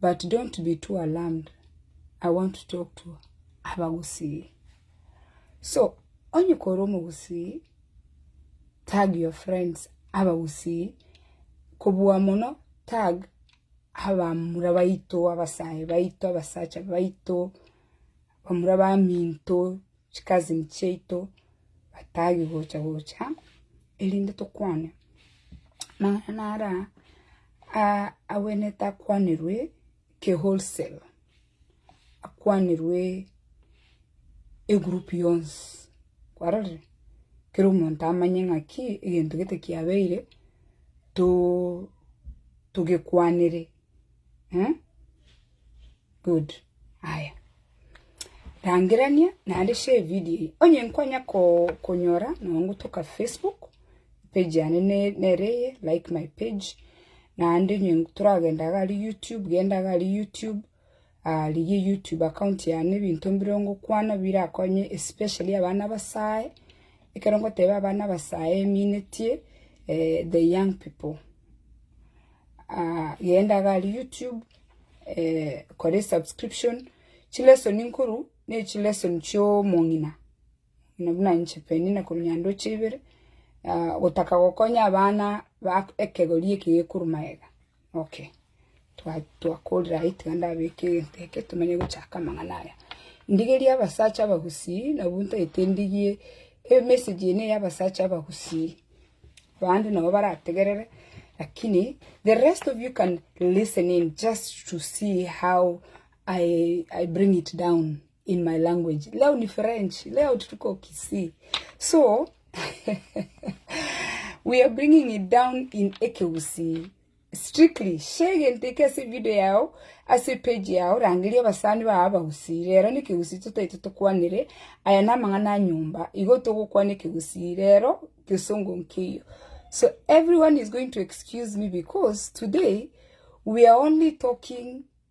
but don't be too alarmed I want to talk to abagusii so onye kore omogusii tag your friends abagusii kobua mono tag abamura baito abasae baito abasacha baito bamura baminto. chicousin chiaito batagi gocha gocha erinde tokwane. Amang'ana naro aya, aa agwenerete akwanerwe ki wholesale, akwanerwe egroup yonsi, kwarorire? Kera omonto amanye ng'aki egento gete kiabeire to togekwanere. eh good aya rangerania naende share evidio eye onye nkwanya konyora nabo ngotoka Facebook page yane nere eye like my page naende onye toragenda iga aria YouTube genda iga aria YouTube. Aah rigia YouTube account yane ebinto mbire ngokwana birakonye especially abana abasae, ekero ngoteba abana abasae eminetie the young people. Aah genda iga aria YouTube kora esubscription, chilesson nkorwa ne chilesson chiomong'ina, buna buna inche Penina korwa Nyandoche ibere, gotaka gokonya abana ba ekegori eke gekorwa magega. Ok, twakorire ayio tiga ndabeke egento eke tomenye gochaka amang'ana aya. Ndigerie abasacha abagusii, nabwo ntagete ndigie emessage eye neya abasacha abagusii, abande nabo barategerere, lakini the rest of you can listen in just to see how I bring it down in my language leo ni french leo tuko kisii so we are bringing it down in ekegusii strictly shegento eke ase video yao ase page yao rangeria abasani bao abagusii rero ne kegusii totaete tokwanere aya na amang'ana a nyomba igo togokwana ekegusii rero kesongo nkeiyo so everyone is going to excuse me because today we are only talking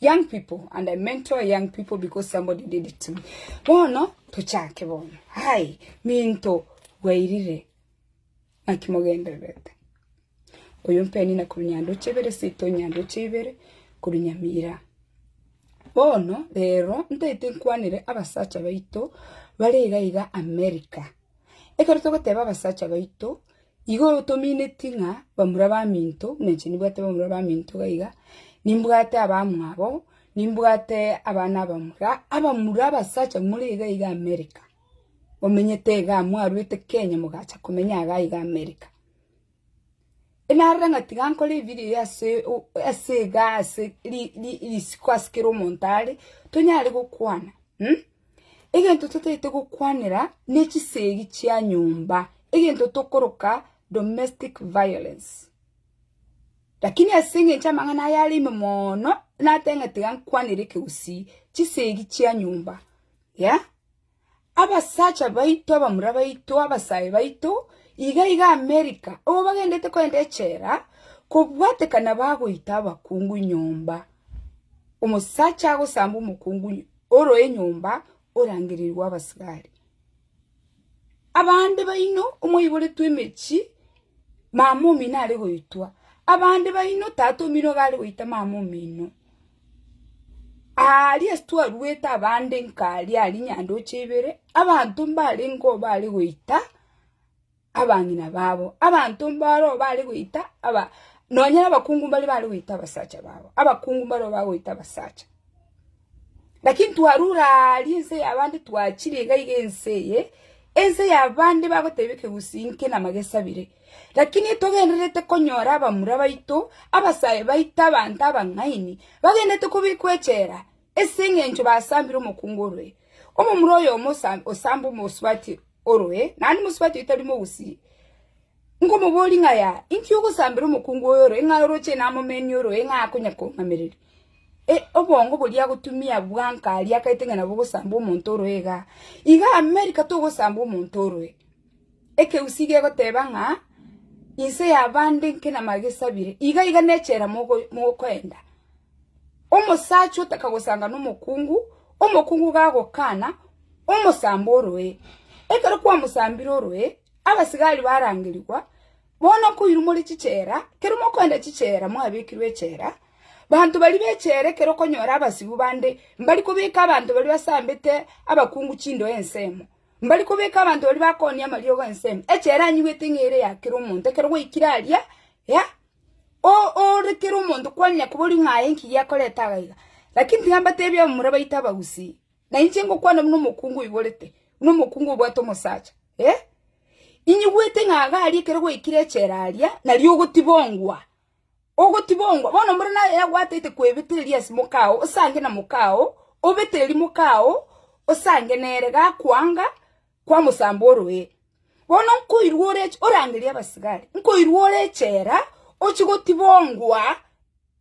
Young people and I mentor young people because somebody did it to me. Bono tochake bono. Hai minto bwairire naki mogendererete. Oyo mpeni na kurunya ndoche ibere sito nya ndoche ibere kurunya mira. Bono rero ntaite nkwanire abasacha baito bare iga iga America. Ekero togoteba abasacha baito Igo tomineti ng'a bamura baminto, buna inche nibwate bamura baminto iga iga, nimbwate abamwabo, nimbwate abana abamura, abamura abasacha more iga iga America, bamenyete igaa mwarwete Kenya mogacha komenya iga iga America. Narora ng'a tiga nkore ebibe iga ase u- ase iga ase ri- ri- risiko ase kera omonto are, tonyare gokwana Egento totaete gokwanera ne chisegi chia nyomba, egento tokoroka domestic violence. Lakini ase engencho amang'ana aya are ime moono, nateba ng'a tiga nkwanere ekegusii, chisegi chia nyomba, yeah. Abasacha baito, abamura baito, abasae baito, iga iga America, obo bagenderete kogenda echela, kobwatekana bagoita abakungu nyomba. Omosacha agosamba omokungu. oro enyomba orangerirwe abasigari. Abande baino omoiboretwe emechi, mama omino are goitwa, abande baino tata omino iga are goita mama omino. Aaria ase twaruete abande nkaria aria nyandoche ibere, abanto mbarengeo bare goita. abang'ina babo, abanto mbaro bare goita aba, nonya abakungu mbare bare goita abasacha babo, abakungu mbaro bagoita abasacha. Lakini twarure aaria ense y'abande twachire iga iga ense eye, ense y'abande bagoteba ekegusii inki na magesabire. Lakini togendererete konyora abamura baito, abasae baito abanto abang'aini, bagendererete kobekwa echela. Ase engencho basambire omokungu oroe, omomura oyomo osamba omosubati oroe, naende mosubati oyo tari mogusii. Nkomoboria ng'a ya, inki ogosambera omokungu oyo oroe ng'a oroche namomenie oroe ng'a akonya kong'amereri? E, obongo boria agotumia bwanka aria akaete ng'a nabo ogosamba omonto oroe igaa. Iga America togosamba omonto oroe. Ekegusii gegoteba ng'a inse yabande nkenama gesabire, iga iga nechela mogo mokoenda. Omosacha otaka gosanga nomokungu, omokungu gagokana, omosambe oroe. Ekero kwamosambire oroe, abasigari barangerigwa, bono koirwa more chichera, kero mokoenda chichera mwabekirwe echera, banto baria b'echera ekero okonyora abasibu bande mbari kobeka abanto baria basambete abakungu chindoe ensemo, mbari kobeka abanto baria bakoonia amariogo ensemo, echera anyigwete ng'a ere ya kera omonto ekero gwaikire aria, ya. Ore kera omonto kwanyanya koboria ng'a aye inki giakorete iga iga, lakini tiga mbateebie abamura baito abagusii, na inche ngokwana buna omokungu oiborete, buna omokungu obwate omosacha. Inyigwete ng'a iga aria ekero gwaikire echela aria, nari ogotibongwa, ogotibongwa. Bono mbore naye agwataete kwebetereria ase moka oo, osange na moka oo, obetererie moka oo, osange nere, gakwanga, Kwamosamba orue, bono nkoirwa ore orangerie abasigari, nkoirwa ore echela, ochie gotibongwa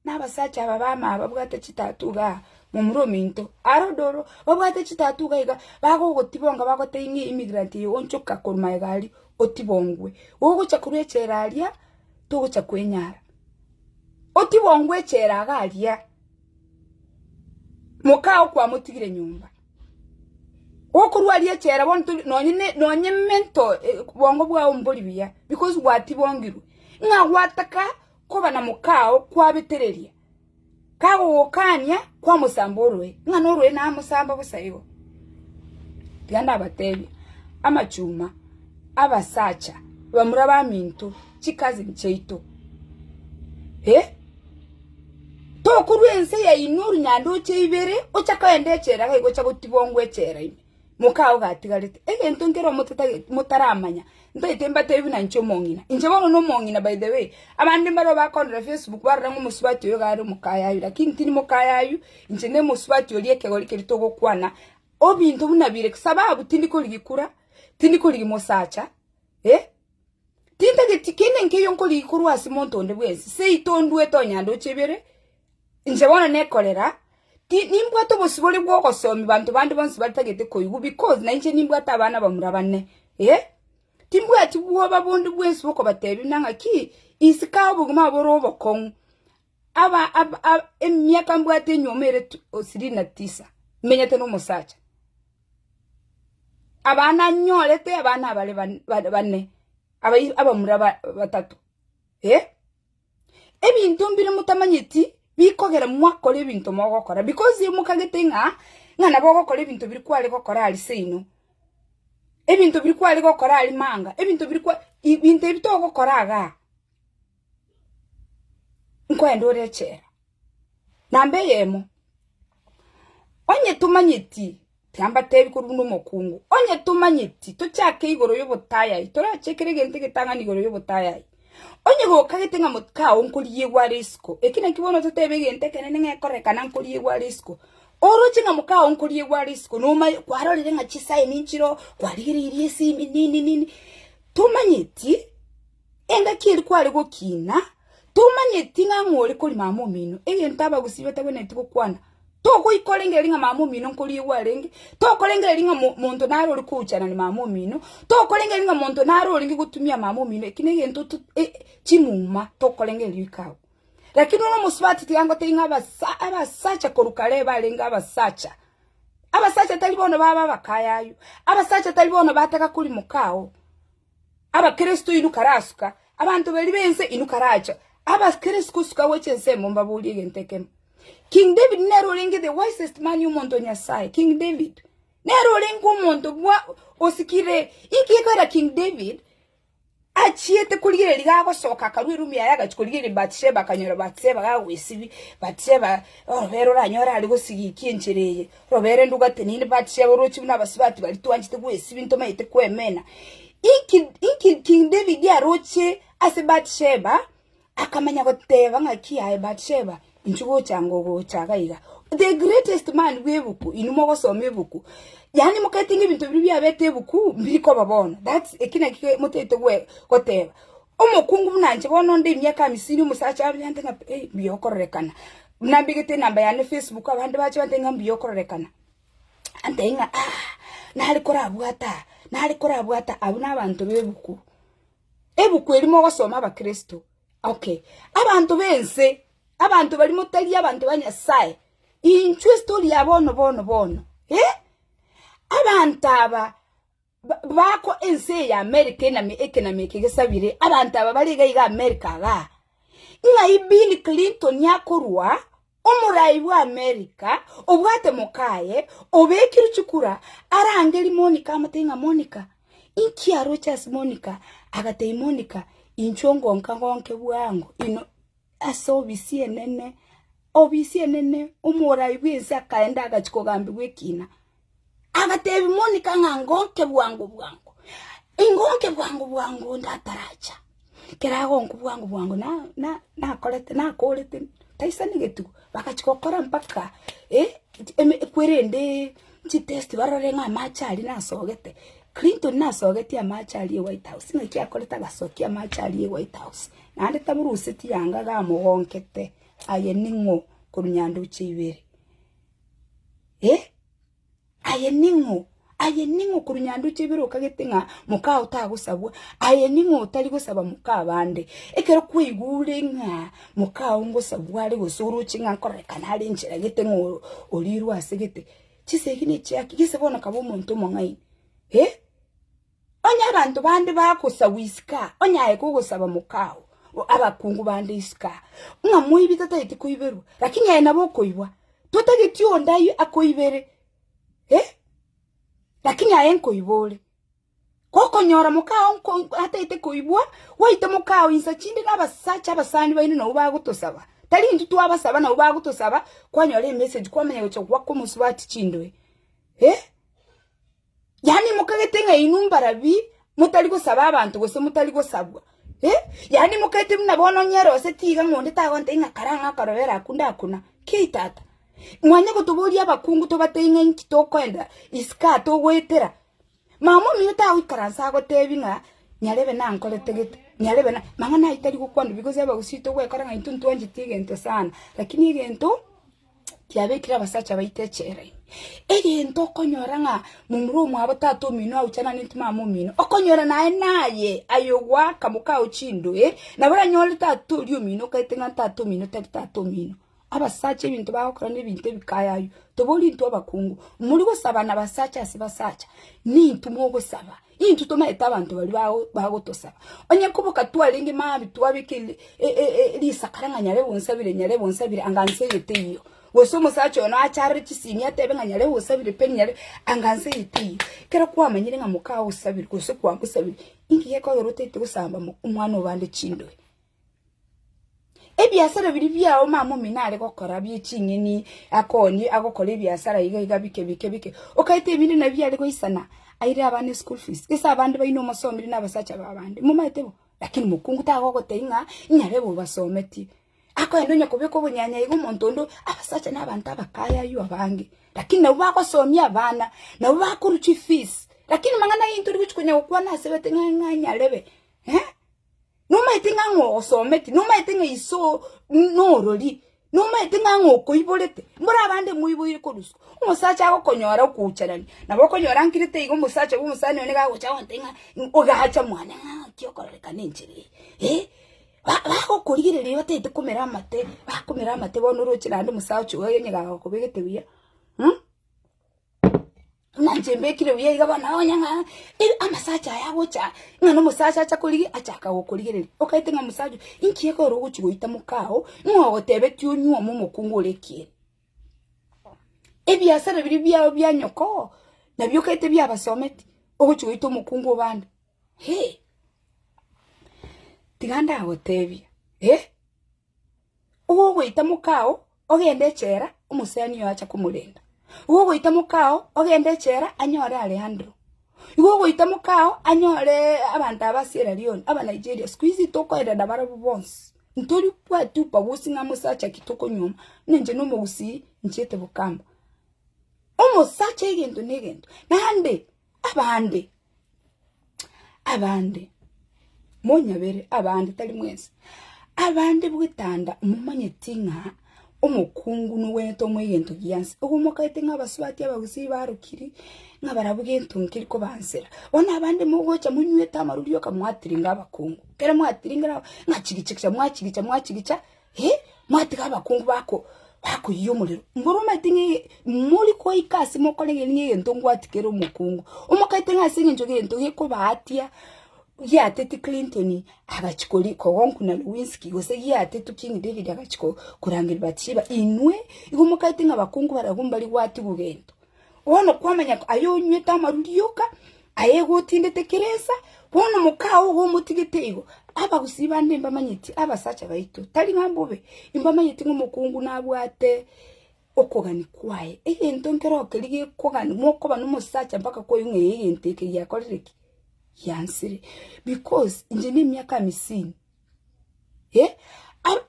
nabasacha aba bamama babwate chitattoo iga aa, momura ominto are odoro, babwate chitattoo iga iga, bagogotibonga bagotebi ng'a immigrant eye onchoka korwa magega aria otibongwe, gogocha korwa echela aria, togocha kwenyara, otibongwe echela iga aria, mokao kwamotigire nyomba. Okorwa aria echela bono tori nonye ne nonye mental obongo bwao mbori buya because gwatibongirwe ng'a gwataka koba na mokao kwabetereria kagogokania kwamosamba oroe ng'a noroe namosamba bosa igo. Tiga nabatebi, amachuma, abasacha, bamura baminto. chi cousin chiaito eh tokorwa ense yaino orunyandoche ibere ocha kogenda echela iga igocha gotibongwa echela ime mokao gatigarete egento nkere omote tageti motaramanya ntagete mbatebi buna inche omong'ina inche bono na omong'ina by the way abande mbarobwo bakorora facebook barora ng'a omosubati oyo iga are omokayayu lakini tindi mokayayu inche na omosubati oria ekegori keria togokwana obinto buna bire sababu tindi korigia kura tindi korigia mosacha. Eh? Tintageti kende nkeyio nkorigia korwa ase monto onde bwensi, seito ondue tonyandoche ibere, inche bono nekorera, ti nimbwate obosibore bw'ogosomi banto bande bonsi batagete koigwa because nainche nimbwate abana bamura bane. Eh? Timbwati bwoba bonde bwensi bokobatebi buna ng'aki, isiko aye obogima obo bore obokong'u. Aba emiaka mbwate enyuoma ere osirini na tisa menyete nomosacha, abana anyorete abana abare bane, abamura batato. Eh! Ebinto mbire motamanyeti bikogera mwakora ebinto mogokora because mokagete ng'a nabo ogokora ebinto biria kware gokora aria seino, ebinto biria kware gokora aria manga, ebinto biria kware, ebinto ebi togokora igaa. nkwende ore echela. Namba eyemo, onye tomanyeti tambatebi korwa na omokungu, onye tomanyeti tochake igoro ya obotayayi, torache ekero egento egetang'ani igoro ya obotayayi, onye gokagete ng'a moka oo nkoriegwa are isiko, eki naki bono totebe egento ekenene ng'a ekorekana nkoriegwa are isiko, oroche ng'a moka oo nkoriegwa are isiko nomaye kwarorire ng'a chisaini nchiroo, kwarigereirie esimi nini nini, tomanyeti. Engaki eri kware gokina, tomanyeti ng'a ng'a ore korima mama omino, egento abagusi batawenereti gokwana, togoika orengererie ng'a mama omino nkoriegwa arenge, tokorengereria ng'a monto nare ore kouchanani mama omino, tokorengereria ng'a monto nare orenge gotumia mama omino, eki negento to e chimuma tokorengereria oika agwo. Rakini ore omosubati tiga ngotebie ng'a abasa abasacha korwa kare barenge abasacha, abasacha tari bono baba abakayaywa, abasacha tari bono bataka korimoka agwo. Abakristo inwe karasuka, abanto baria b'ense inwe karacha, Abakristo gosuka gocha ensemo mbaborie egento ekemo. King David nere orenge the wisest man omonto o Nyasae, King David. Nere orenge omonto bwa osikire. Inki gekorera King David achiete korigereria gagosoka akarua eroom yaye agachia korigereria Bathsheba akanyora Bathsheba gagoesibia, Bathsheba orobere oranyore are gosigikia enchera eye. Robeera enduko ati, Ninde Patricia b'orwoochi buna abasibati baria twanchete gwesibia ntomanyete kwemena. Inki King David aroche ase Bathsheba, akamanya goteeba ng'aki yaye, Bathsheba, inchuo gocha anga ogocha iga iga. The greatest man bw'ebuku, inwe mogosoma ebuku, yaani mokaetengia ebinto biria biabete ebuku mbiri koba bono. That's, eki nakio motagete goteeba. Omokungu buna inche bono onde emiaka amisini omosacha abe ante ng'a eh mbuya okororekana. Nambegete enamba yane Facebook abande bache bante ng'a mbuya okororekana. Ante ng'a ah nare korabwate aa, nare korabwate aa. Abwo nabanto b'ebuku. Ebuku eri mogosoma abakristo. Okay. Abanto b'ense, abanto baria motari abanto ba Nyasaye, inchwe story ya bono bono bono eh. Abanto aba. Bako ense eye Amerika ename ekenami eke gesabire abanto aba bare iga iga Amerika iga ng'ai Bill Clinton akorua omorai bwa Amerika obwate mokaye obekirwe chikura arangeri Monica amotebi ng'a Monica inki aroche ase Monica agatebi Monica inche ongonka ngonke bwango ino ase obisi enene obisi enene omorai bwense akaenda agachia kogambigwa ekina. Agateebia, Monika ng'a ngonke bwango bwango, ingonke bwango bwango, onde ataracha. Ekero agonka bwango bwango na- na- nakorete nakoorete taisana egetugo, bagachia gokora mpaka eh eme ekwere endeee chitest barore ng'a amache aria nasogete. Clinton nasogetie amache aria e white house, naki akorete agasokia amache aria e white house, naende taboroseti anga iga amogonkete, aye ning'o korwa nyandoche ibere. Eh? Aye ning'o? Aye ning'o korwa nyanduche ibere okagete ng'a mokao tagosabwa? Aye ning'o otari gosaba mokao bande? Ekero kwaigure ng'a mokao ngosabwa are gose oroche ng'a nkorerekana are enchera gete ng'a orirwe ase gete, chisegi nechiaki gese bono kaba omonto omong'aini. Eh? Onye abanto bande bagosa gwisika, onye aye kogosaba mokao, abakungu bande isika, ng'a moibi tataeti koiberwa, lakini aye nabo okoibwa. Totageti onde ayio akoibere, eh, lakini aye nkoibore. Gokonyora mokao nko ataete koibwa, gwaita mokao insa chinde na abasacha abasani baino nabo bagotosaba. Tari intwe twabasaba nabo bagotosaba, kwanyora emessage kwamanya gocha gwakomosubatia chindoe, eh. Yaani mokagete ng'a inwe mbarabi motari gosaba abanto gose motari gosabwa. Eh, yaani mokagete buna bono onye ere ose tiga ng'a onde tagontebia ng'a kare ang'e akarorero akwo ndakuna. Kei tata. Mwanye gotoboria abakungu tobatebie ng'a inki tokoenda isiko aa togoetera. Mama ominto tagoikaransa agotebie ng'a nyarebe nankorete gete, nyarebe na. Mang'ana ayio tari gokwanwa because abagusii togwekora ng'a intwe ntwanchete egento sana, lakini egento kiabekire abasacha baito echela ime. Egento okonyora ng'a momura omwabo tata omino auchananeti mama omino, okonyora naye naye aye ogoaka mokao chindwe, nabo oranyore tata oria omino okaete ng'a tata omino tari tata omino. Abasacha ebinto bagokora nebinto ebikaya ayio, tobori intwe abakungu. Mori gosaba nabasacha ase basacha, nintwe mogosaba. Intwe tomerete abanto baria bagotosaba, onye koboka twarenge mabi twabeke risakara ng'a nyare bonsabire, nyare bonsabire anga nsegete eyio. Gose omosacha oyo nache arore chisemi atebe ng'a nyare bosabire pe nyare anga nsegete eyio. Ekero kwamanyire ng'a mokagosabire gose kwamosabire, inki gekogera otaete gosamba omwana obande chindoe? Ebiasara biria biao mama omino are gokora bie ching'eni akonye agokora ebiasara iga iga bike bike bike okaete ebinde nabio are goisana aire abana eschool fees gese abande baino omosomire na abasacha ba bande momaete bo? Lakini mokungu tagogotebia ng'a inyare ebe obasometie akoenda onye kobeka obonyanya iga omonto onde abasacha na abanto abakaya aywo abange lakini nabo bagosomia abana nabo bakorwa chifees lakini mang'ana aye ntori gochi konya gokwana asebete ng'a ng'a inyarebe eh. Nomaete ng'a ng'a ogosometi, nomaete ng'a iso norori, nomaete ng'a ng'a okoiborete, mboro abande moiboire korwa isiko, omosacha agokonyora okoocharani, nabo okonyora nkirete igo omosacha obo omosani one gagocha goteba ng'a ogaacha mwane ng'a naki okororeka na enchera eye eh, ba bagokorigereria batagete komera amate, bakomera amate bono oroche naende omosacha oyo onye gakobegete buya. Buna inche mbekire buya iga bono, onye ng'a e- amasacha aya agocha, ng'a na omosacha acha korigia, achaka gokorigereria. Okaete ng'a omosacha oyo, inki ekero ogochi goita moka oo, ng'a ogotebetie onyuo amo omokungu ore ekieri. Ebiasara biria biao bia nyoko oo, nabio okaete biabasometi, ogochi goita omokungu o bande, hee. Tiga ndagotebie, eh. Ogogoita mokao ogenda echela omosani oyo acha komorenda. Ogogoita mokao ogenda echela anyore Alejandro. Igogoita mokao anyore abanto aba Sierra Leone, aba Nigeria. Siku hizi tokoenda nabarabwo bonsi. Ntori bwati upaguzi ng'a mosacha ki tokonyuoma. Buna inche na omogusii nchiete bokamba. Omosacha egento ne egento. Naende abande abande, monyabere abande tari mwensi, abande bwetanda momanyeti ng'a omokungu nogwenerete omoe egento giansi, igo mokaete ng'a abasubati abagusii barokiri ng'a barabwo gento nkeri kobansera, bono abande mogocha monywete amaruri oka mwatiringa abakungu, kere mwatiringire abwo ng'a chigicha gicha, mwachigicha mwachigicha. Eh, mwatiga abakungu bako bakoiyia omorero, mboro omanyete ng'a ege- mori goika ase mokore gene ng'a egento ngwati kere omokungu, omokaete ng'a ase eng'encho gento gekobatia giatetwe Clinton agachi kori kogonku na Lewinsky gose giatetwe King David agachi ko- korangeria Bathsheba, inwe igo mokaete ng'a abakungu barabwo mbari gwatigwa gento. Bono kwamanya aye onywete amaruru rioka, aye gotindete keresa, bono omokao igo omotigete igo. Abagusii bande mbamanyeti abasacha baito, tari ng'a mbobe, imbamanyeti ng'a omokungu nabwate okogania kwaye. Egento nkero keria gekogani mokoba nomosacha mpaka koigwa ng'a eye egento eke giakorire ki? Giansire. Because inche nemiaka amisini Eh,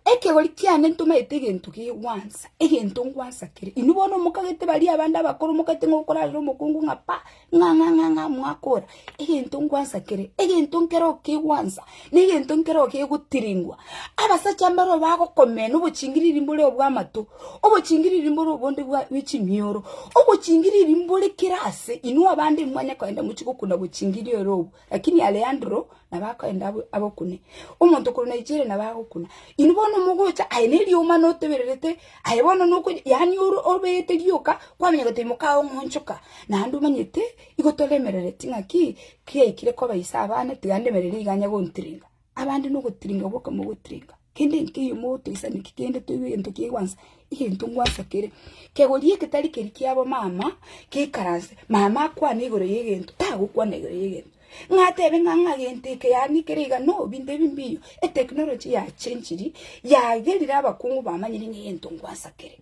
ekegori kiane ntomaete egento kegwansa, egento ngwansa kere. Inwe bono mokagete baria abande abakoro mokagete ng'a okorarera omokungu ng'a pa, ng'a ng'a ng'a ng'a mwakora. Egento ngwansa kere, egento nkero kegwansa, na egento nkero kegotiringwa. Abasacha mbaro bagokomena obochingiriri mbore obw'amato, obochingiriri mbore obonde bwa chimioro, obochingiriri mbore kera ase, inwe abande mwanya kogenda mochie gokuna bochingiri oro obwo. Lakini Aleandro nabo akoenda abwo agokune omonto korwa Nigeria nabo agokuna inwe bono mogocha aye nerioma notebererete aye bono noko yaani oro obeete rioka kwamenya gotebia mokaye ong'onchoka naende omanyete igo toremerereti ng'aki kiaikire koba ise abana tiga ndemereri iga anye gontirenga. Abande nogotiringa gwoka mogotiringa, kende nkeiyo mogotoisaneki, kende toigwe egento kiaye gwansa, egento ngwansa kere. Kegori egetari keria kiabo mama gekaranse, mama akwane igoro yegento, tagokwana igoro yegento, ng'a atebe ng'a ng'a gento eke yani kere iga no, binto ebi mbiiyo. Etechnology yachenchiri, yagerire abakungu bamanyire ng'a egento ngwansa kere,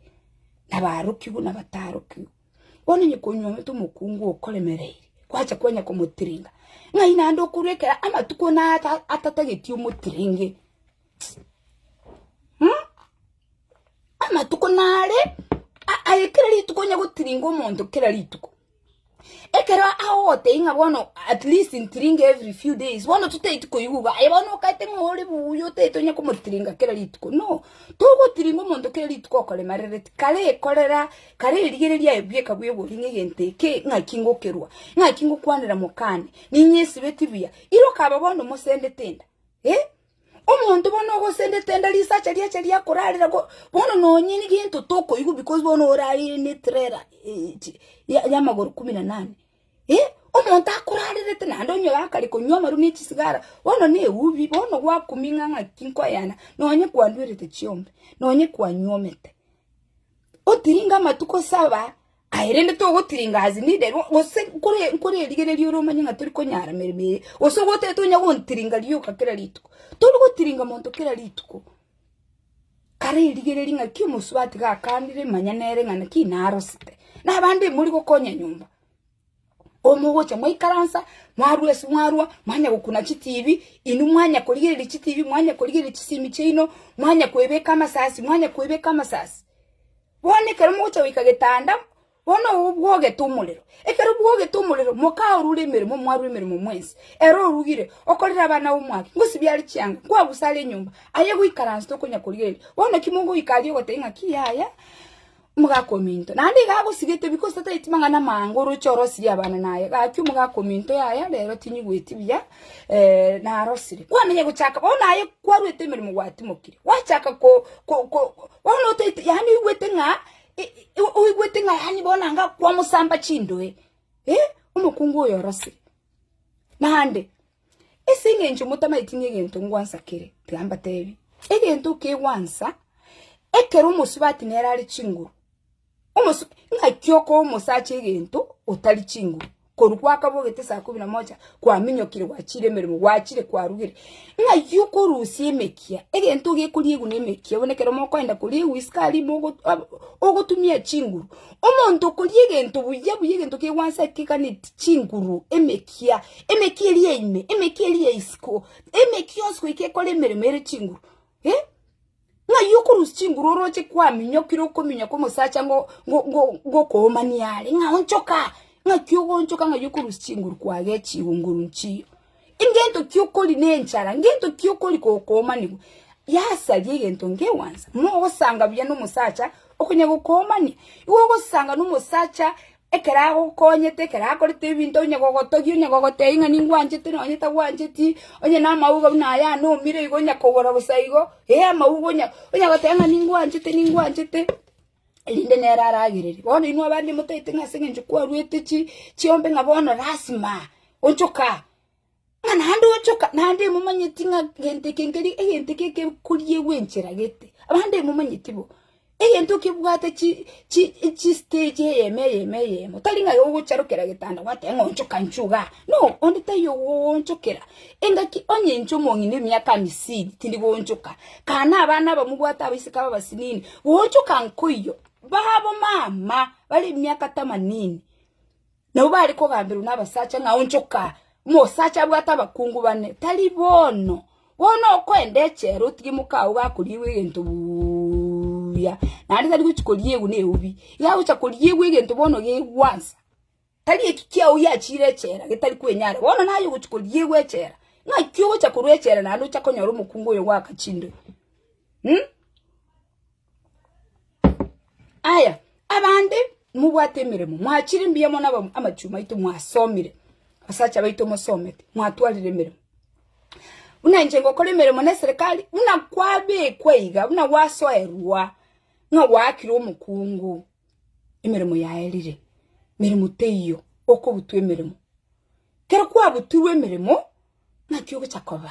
nabarokigwe nabatarokigwe. Bono onye konyuomete omokungu oo okoremereire, kwacha kwenya komotiringa, ng'ai naende okorwa ekero amatuko nacha atatageti omotirenge? amatuko nare aye kera rituko onye gotiringa omonto kera rituko. Ekero agogotebia ng'a bono at least ntiringe every few days, bono totageti koigwa iga, aye bono okaete ng'a ore buya otagete onye komotiringa kera rituko, no! Togotiringa omonto kera rituko okoremarereti, kare ekorera. Kare erigereria aye bweka bwebori ng'a egento eke ng'aki ngokerua, ng'aki ngokwanera mokane, ninyesibeti buya, iro kaba bono omosendete enda. Eh! Omonto bono ogosendete enda risacha riacha riakorarera go, bono nonye negento tokoigwa because bono orarire netrela yamagoro kumi na nane. Eh! Omonto akorarerete naende onye akare konywa amaru ne chisigara, bono neubi, bono gwakumia ng'a ng'aki nkoyana, nonye kwanduerete chiombe, nonye kwanyuomete. Togotiringa amatuko saba aye, rende togotiringa as needed, gose nkore nkore erigereria ore omanye ng'a tori konyara emeremo eye, gose gotete onya gontiringa rioka kera rituko. Tori gotiringa monto kera rituko, kara erigereria ng'aki omosubati gakanire manya nere ng'a naki narosete, na abande mori gokonya nyomba. Omogocha mwaikaransa, mwarua ase mwarua, mwanya gokuna chitibi, inwe mwanya korigereria chitibi, mwanya korigereria chisimi chiaino, mwanya koebeka amasasi, mwanya koebeka amasasi. Bono ekero mogocha goika getanda, bono oo bwogete omorero. Ekero bwogete omorero, moka orure emeremo, mwarue emeremo mwensi. Ere orugire, okorere abana b'omwake, ngosibie are chianga, nkoabusa are enyomba, aye goikaransa tokonya korigereria. Bono ki mogoika aria ogoteba ng'aki yaya, Omogaka ominto, naende iga agosibete, bikose tataeti mang'ana amange oroche orosirie abana naye. Gaki omogaka ominto, Yaya, rero tinyigweti buya, ee, narosire. Bono onye gochaka, bono aye kwaruete emeremo gwatimokire, gwachaka ko, ko, ko, bono notaeti, yaani oigwete ng'a oigwete ng'a yaani bono anga kwamosamba chindoe, eh, omokungu oyo orosire. Naende, Ase engencho motamaeti negento ngwansakere, tiga mbatebi, egento ke gwansa, ekero omosubati nere are chinguru, omosu ngaki okoa omosacha egento otari chinguru, koru gwakabogete saa kumi na moja, gwaminyokire gwachire emeremo, gwachire kwarugire, ngaki okorusia emekia, egento gekoriegwa na emekia, buna ekero mokoenda koriegwa isiko aria mogo ab ogotumia chinguru, omonto okoria egento buya buya egento kegwansa ekeganeti chinguru, emekia. emeki eria ime, emeki eria ya isiko, emeki yonsi goika ekore emeremo ere chinguru eh, ng'ai okorusia chinguru oroche kwaminyokire okominyoka omosacha ngo ngokoomania are ng'a onchoka, ng'aki ogonchoka ng'ai okorusia chinguru kwage chigunguru nchio. Engento ki okori na enchara, ngento ki okori gokoomaniwa, yasaria egento nkewansa, mogosanga buya na omosacha okonya gokoomania, igo ogosanga na omosacha. ekero agokonyete, ekero akorete ebinto onye gogotogia, onye gogotebia ng'a ningwanchete nonye tagwancheti, onye namauga buna aya aa nomire igo onye kogora bosa igo, ee amauga onya onya goteba ng'a ningwanchete ningwanchete, erinde nere aragereri. Bono inwe abande motagete ng'a aseng'encho kwarwete chi chiombe ng'a bono lasima, onchoka. Ng'a naende ochoka, naende momanyeti ng'a gento eke nkeri egento eke ekekorie gwenchera gete, abande momanyeti bo, egento kebwate chi chi chi stage eyemo eyemo eyemo, tari ng'a ogocharokera getanda gwateba ng'a onchoka inche igaa, no, onde taiyo ogoonchokera, engaki onye inche omong'ina emiaka amisini tindi goonchoka, kana abana aba mobwate abaiseke aba abasinini, goonchoka nkoiyo, babo mama bare emiaka tamanini. Nabo baria kogamberwa nabasacha ng'a onchoka, omosacha abwate abakungu bane, tari bono. Bono okoenda echela otige mokao gakoriegwa egento buuya, naende tari gochia koriegwa ne eubi. Iga agochia koriegwa egento bono gegwansa, tari eki kiao giachire echela getari kwenyara. Bono naye ogochia koriegwa echela, ng'aki ogochia korwa echela naende ocha konyora omokungu oyo gwaka chindwe? Aya, abande mobwate emeremo, mwachire mbuya mono amachio maito mwasomire, abasacha baito mosomete, mwatwarire emeremo. Buna inche ngokora emeremo ne eserekari, buna kwabekwa iga, buna gwasoerwa, ng'a gwaakire omokungu, emeremo yaye rire, emeremo teiyo, okobutwa emeremo. Kero kwabutirwe emeremo. Naki ogocha koba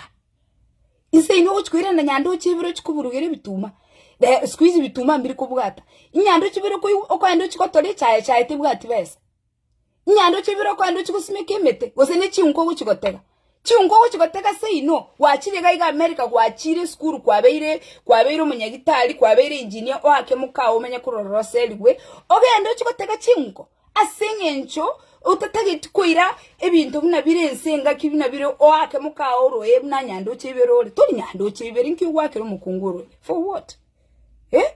inse eye nogochi koirana nyandochio ibere ochie koburugera ebituma rero siku hizi ebituma mbiri kobwata inyandochio ibere okoigwa okoenda ochie gotora echaye echaye tebwati besa inyandochio ibere okoenda ochie gosimeka emete gose ne chiungo ogochi gotega chiungo ogochi gotega seino gwachirega iga america gwachire esukuru kwabeire kwabeire omonyagitari kwabeire engineer oake moka omenye korora oroseriwe ogende ochie gotega chiungo. Ase engencho otatageti koira ebinto buna bire ense engaki buna bire oake mokao oroye buna nyandoche ibere ore tori nyandoche ibere inki ogwakera omokungu oroye for what eh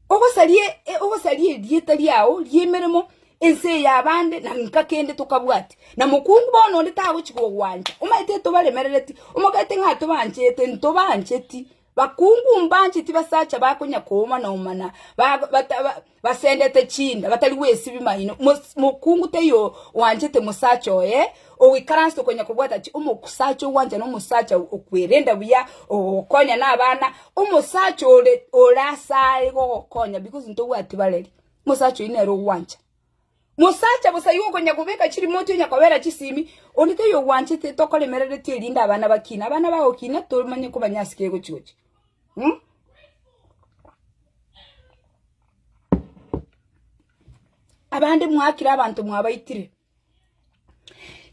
ogosaria ogosaria erieta riao riemeremo ense ya abande na nka kende tokabwati na mokungu bono onde tagochi kogwancha omanyete tobaremerereti omanyete ng'a tobanchete ntobancheti Bakungu mbanche tibasacha bakonya kouma-nouma na basendete chinda batari gwesibia maino. Mokungu teiyo oanchete mosacha oye, ogoikaransa tokonya kobwata chi omosacha ogwanchana omosacha okwerenda buya, ogokonya na abana. Omosacha ore ore asare gogokonya because ntobwati bareri. Omosacha oyio nere ogwancha. Mosacha bosayio okonya kobeka chirimoti onya kobera chisimi, onde taiyo ogwanchete tokoremereretie erinde abana bakine. Abana bagokina tomanye kobanya ase kegochi gochi. Mh? Abande mwakire abanto mwabaitire.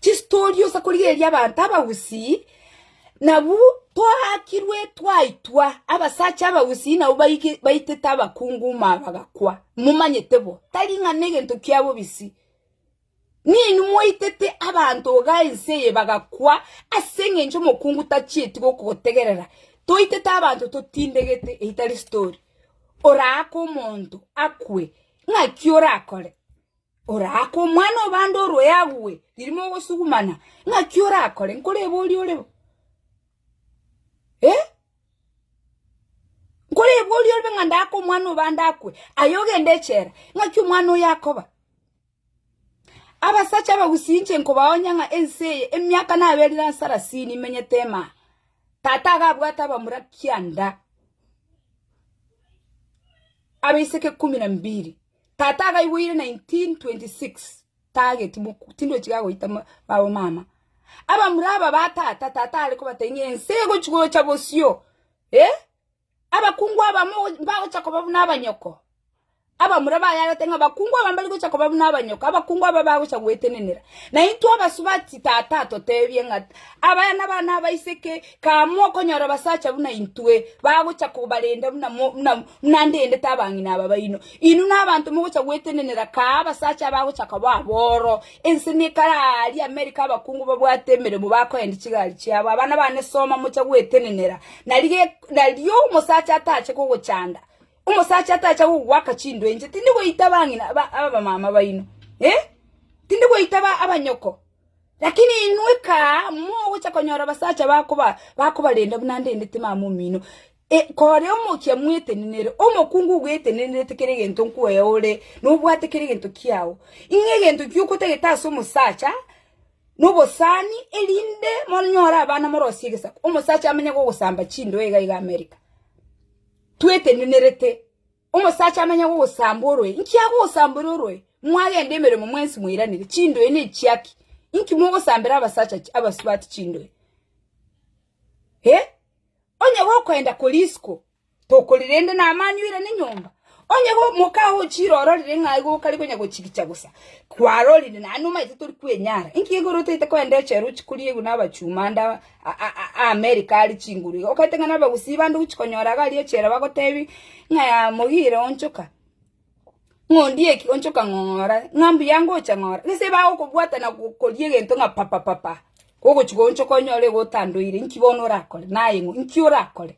Chistory osa korigereria abanto abagusii nabu twahakirwe twaitwa abasacha abagusii nabo baitete abakungu uma bagakwa momanyete bo tari ng'a negento kia bobisi ninyu mwaitete abanto iga ense eye bagakwa ase eng'encho omokungu tachieti gokogotegerera twaitete abanto totindegete eye tari story orake omonto akwe ng'aki orakore. Oraake omwana o bande orue agwe, riria mogosugumana, ng'aki orakore? Nkorebe oria ore bo? Eh? Nkorebe oria ore bo ng'a ndaake omwana o bande akwe, aye ogende echela? Ng'aki omwana oyo akoba? Abasacha abagusii inche nkobaonya ng'a ense eye emiaka naberire asalasini imenyete ime aa, tata iga abwate abamura kianda abe isiko ekuminambiri. Tata akaigwire 1926 tageti boku tindwe chiga goita bago mama abamura aba ba tata tata are kobatainia ense egochi gocha bosio eh abakungu aba mbagocha koba buna abanyoko abamura bayarete ng'a abakungu aba mbari gocha koba buna abanyoko abakungu aba bagocha goetenenera na intwe abasubati tata atotebie ng'a abana bana abaiseke kamo okonyora basacha buna intwe bagocha kobarenda buna mo buna Buna ndende tabang'ina aba baino, inwe nabanto mogocha gwetenenera kaa abasacha abagocha koba abooro. Ense nekare aaria Amerika abakungu babwate emeremo bakoendia chigari chiabo. Abana bane soma mocha gwetenenera. Nari nario omosacha atache kogochanda. Omosacha atacha gogwaka chindo enche tindi goita abang'ina abamama baino eh tindi goita abanyoko. Lakini inwe kaa mogocha konyora abasacha bakoba bakobarenda buna ndende timama omino. E, kore omokia mwetenenere, omokungu ogwetenenerete kera egento nkoye ore, nobwate kera egento kiao. Ing'e egento ki'okotagete ase omosacha nobosani, erinde monyore abana morosie egesaku. Omosacha amenya gogosamba chindoe iga iga America. Twetenenerete. Omosacha amenya gogosamba oroe. Inki agogosambera oroe? Mwagenda emeremo mwensi moiranire. Chindoe nechiaki. Inki mogosambera abasacha chi- abasubati chindoe? Eh, onye gokoenda koria isiko, tokoria rende na amani oire nenyomba. Onye moka agwo chire ororire ng'a aiga okare konya gochigicha bosa, kwarorire naye nomaete tori kwenyara. Inki egere otaete koenda echela ochikorie igwe na abachuma ande America aria chinguru iga. Okaete ng'a na abagusii bande ogochi konyora iga aria echela bagotebie ng'a yaya mogire onchoka. ng'ondi eki onchoka ng'ora ng'a mbuya ngocha ng'ora gese bagokobwatana gokoria egento ng'a papa papa ogochi goonchoka onyore igo otandoire inki bono orakore naye ng'o inki orakore.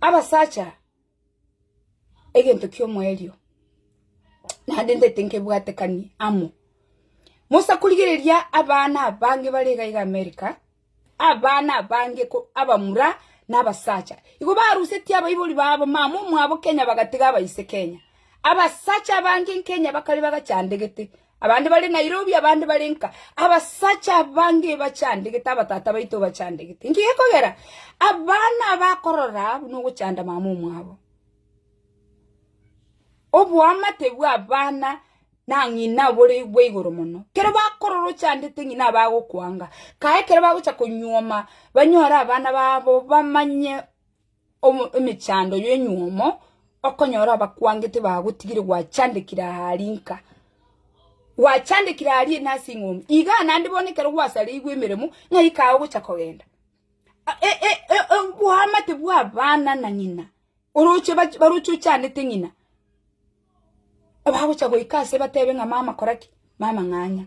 Abasacha egento kia omoerio naende ntagete nkebwatekanie amo, mosa korigereria abana abange bare iga iga America. Abana abange abamura na abasacha igo barusetie abaibori babo mama omwabo Kenya bagatiga abaise Kenya. Abasacha abange Kenya bakaria bagachandegete, abande bare Nairobi abande bare nka. Abasacha abange bachandegete abatata baito bachandegete. Inki gekogera? Abana bakorora buna ogochanda mama omwabo. Oboamate bwa abana. na ng'ina abore bwa igoro mono. Kere bakorora ochandete ng'ina abe agokwanga, kae ekero bagocha konyuoma banyore abana babo bamanye emechando y'enyuomo, okonyora abakwangete bagotigire gwachandekire aa rinka, gwachandekire aria nase eng'ombe. Iga naende bono ekero gwasareirwe emeremo ng'ai kae ogocha kogenda. Oboamate bw'abana na ng'ina oroche bache baroche ochandete ng'ina. Abagocha goika ase batebe ng'a mama kora ki? Mama ng'anya.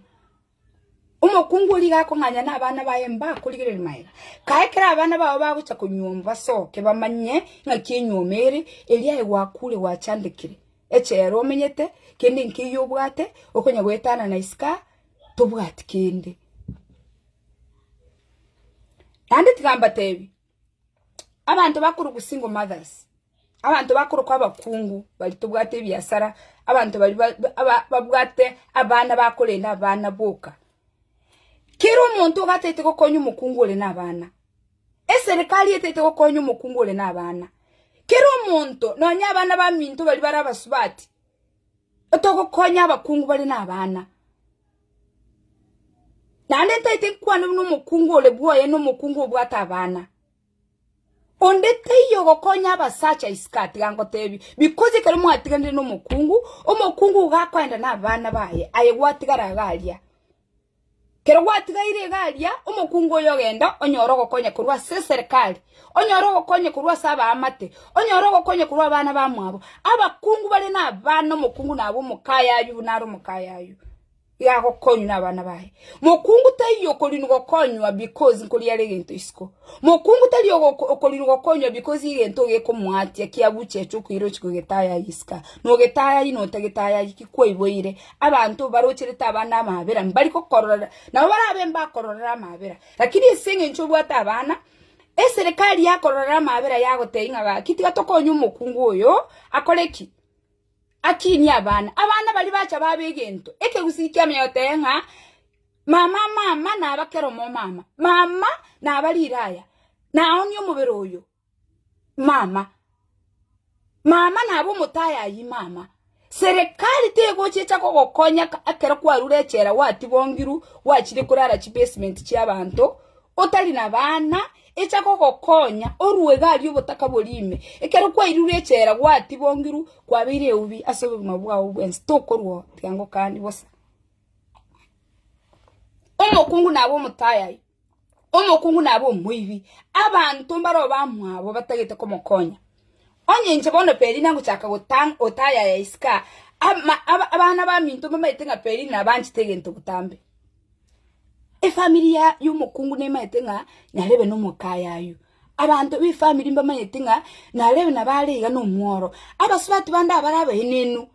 Omokungu oria iga akong'anya na abana baye mbakorigereria magega. Kae ekero abana bao bagocha konyuomwa basoke bamanye ng'aki enyuoma ere, eria aye gwakure gwachandekire. Eche ere omenyete, kende nkeiyo obwate, okonya goetana na isiko, tobwati kende. Naende tiga mbatebi, Abanto bakorokwa single mothers, abanto bakorokwa abakungu baria tobwate ebiasara, abanto baria babwate abana bakorenda abana boka. Kera omonto ogatete gokonya omokungu ore nabana, eserekari etete gokonya omokungu ore nabana. Kera omonto nonya abana baminto baria bare abasubati, otogokonya abakungu bare nabana. Naende ntaete nkwane buna omokungu ore bwoye na omokungu obwate abana. Onde taiyo ogokonya abasacha isiko atiga ngotebi, because ekero mwatiganire na omokungu, omokungu iga akoenda na abana baye aye gwatigara iga aria. Kero gwatigaire iga aria, omokungu oyo ogenda onyore ogokonya korwa ase eserekari. Onyore ogokonya korwa ase abaamate, onyore ogokonya korwa abana bamwabo. Abakungu bare naba nomokungu nabe omokayayu buna are omokayayu, iga agokonywa nabana baye. Mokungu taiyo okorinwa gokonywa because nkori are egento isiko. Mokungu tari okorinwa gokonywa because iga egento iga ekomoatia kiaguchecha okoira ochia kogetayayi isiko. Nogetayayi notegetayayi ki kwaiboire? Abanto barocherete abana amabera mbari gokorora, nabo barabe mbakororera amabera. Lakini ase eng'encho obwate abana, Eserekari yakorora amabera yagotebia ng'a gaki tiga tokonye omokungu oyo akore ki? Akinie abana. Abana baria bacha baba egento. Ekegusii kiamanya gotebia ng'a mama mama naba kera omomama. Mama naba riraya. Naonia omobere oyo mama. Mama nabe omotayo ayio mama. Serikali tegochicha kogokonya ekero kwarure echela gwatibongirwe gwachire korara chibasement chiabanto otari na bana echa kogokonya orue iga aria obotaka bori ime ekero kwairure echela gwatibongirwe kwabeire eubi ase obogima bwao bwensi tokorwao tiga ngokani bosa. Omokungu nabe omotayo ayio. Omokungu nabe omoibi, abanto mbare abamwabo batagete komokonya. Onye inche bono Perina ngochaka gotayaya isiko aa, abana baminto mbamaete ng'a Perina nabanchete egento botambe. Efamiri y'omokungu nemaete ng'a narebe nomokayayu. Abanto b'efamiri mbamaete ng'a narebe nabare iga nomworo. Abasubati bande abare abaenenu.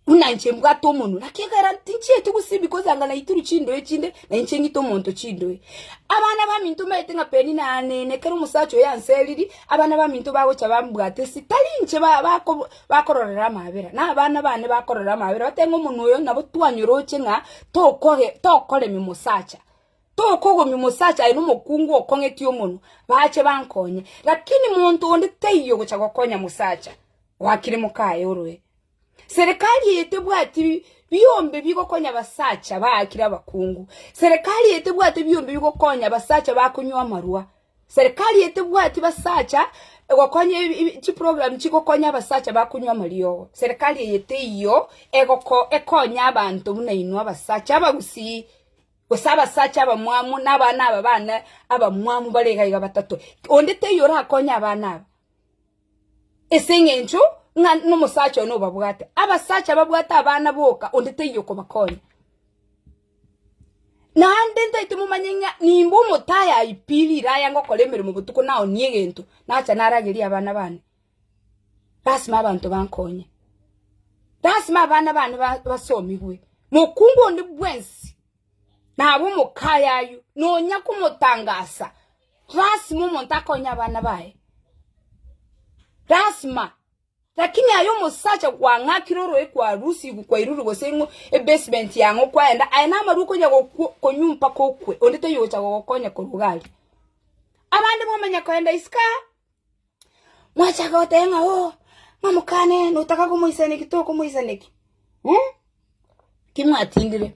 Buna inche mbwate omonwa, naki ekero tinchieti gosimbigwa kosangana naituru chindoe chinde, na inche ng'ite omonto chindoe. Abana baminto mbaete ng'a Penina aanene, ekero omosacha oyo anseriri, abana baminto bagocha bambwate ase, tari inche ba- bako- bakororera amabera, na abana bane bakororera amabera, bateba ng'a omonwa oyo nabo twanyoroche ng'a tokoge tokoremia omosacha, tokogomia omosacha aye na omokungu okong'etie omonwa, bache bankonye. Lakini monto onde taiyo ogocha gokonya mosacha. Gwakire mokaye orue. Serikari eye tebwati biombe bigokonya abasacha baakire abakungu. Serikari eye tebwati biombe bigokonya abasacha bakonywa amarwa. Serikari eye tebwati basacha gokonya chiprogram chigokonya abasacha bakonywa amariogo. Serikari eye teiyo ekonya abanto buna inwe abasacha abagusii, gose abasacha abamwamu na abana aba bane abamwamu bare iga iga batato. Onde teiyo orakonye abana aba. es'eng'encho ng'a nomosacha one obabwate. Abasacha babwate abana boka onde taiyo okobakonya. Naende ntaete momanye ng'a nimbe omotayayi pi rire aya ngokora emeremo botuko naonie egento nacha naragerie abana bane. Lasima abanto bankonye, lasima abana bane basomigwe, mokungu onde bwensi. Nabo omokayo ayio nonya komotangasa, lasima omonto akonye abana baye, lasima. Lakini aye omosacha kwang'akire oroyee kwarusia igwe kwairurwa gose ng'o ebasement yang'o kwaenda, aye namarwa okonya gokwo konywa mpaka okwe, onde toigocha gogokonya korwa iga aria. Abande mwamanya koenda isiko aa. Mwachaka goteba ng'a oo, ng'a mokane notaka komoisanekia tokomoisanekia. Kimwatindire,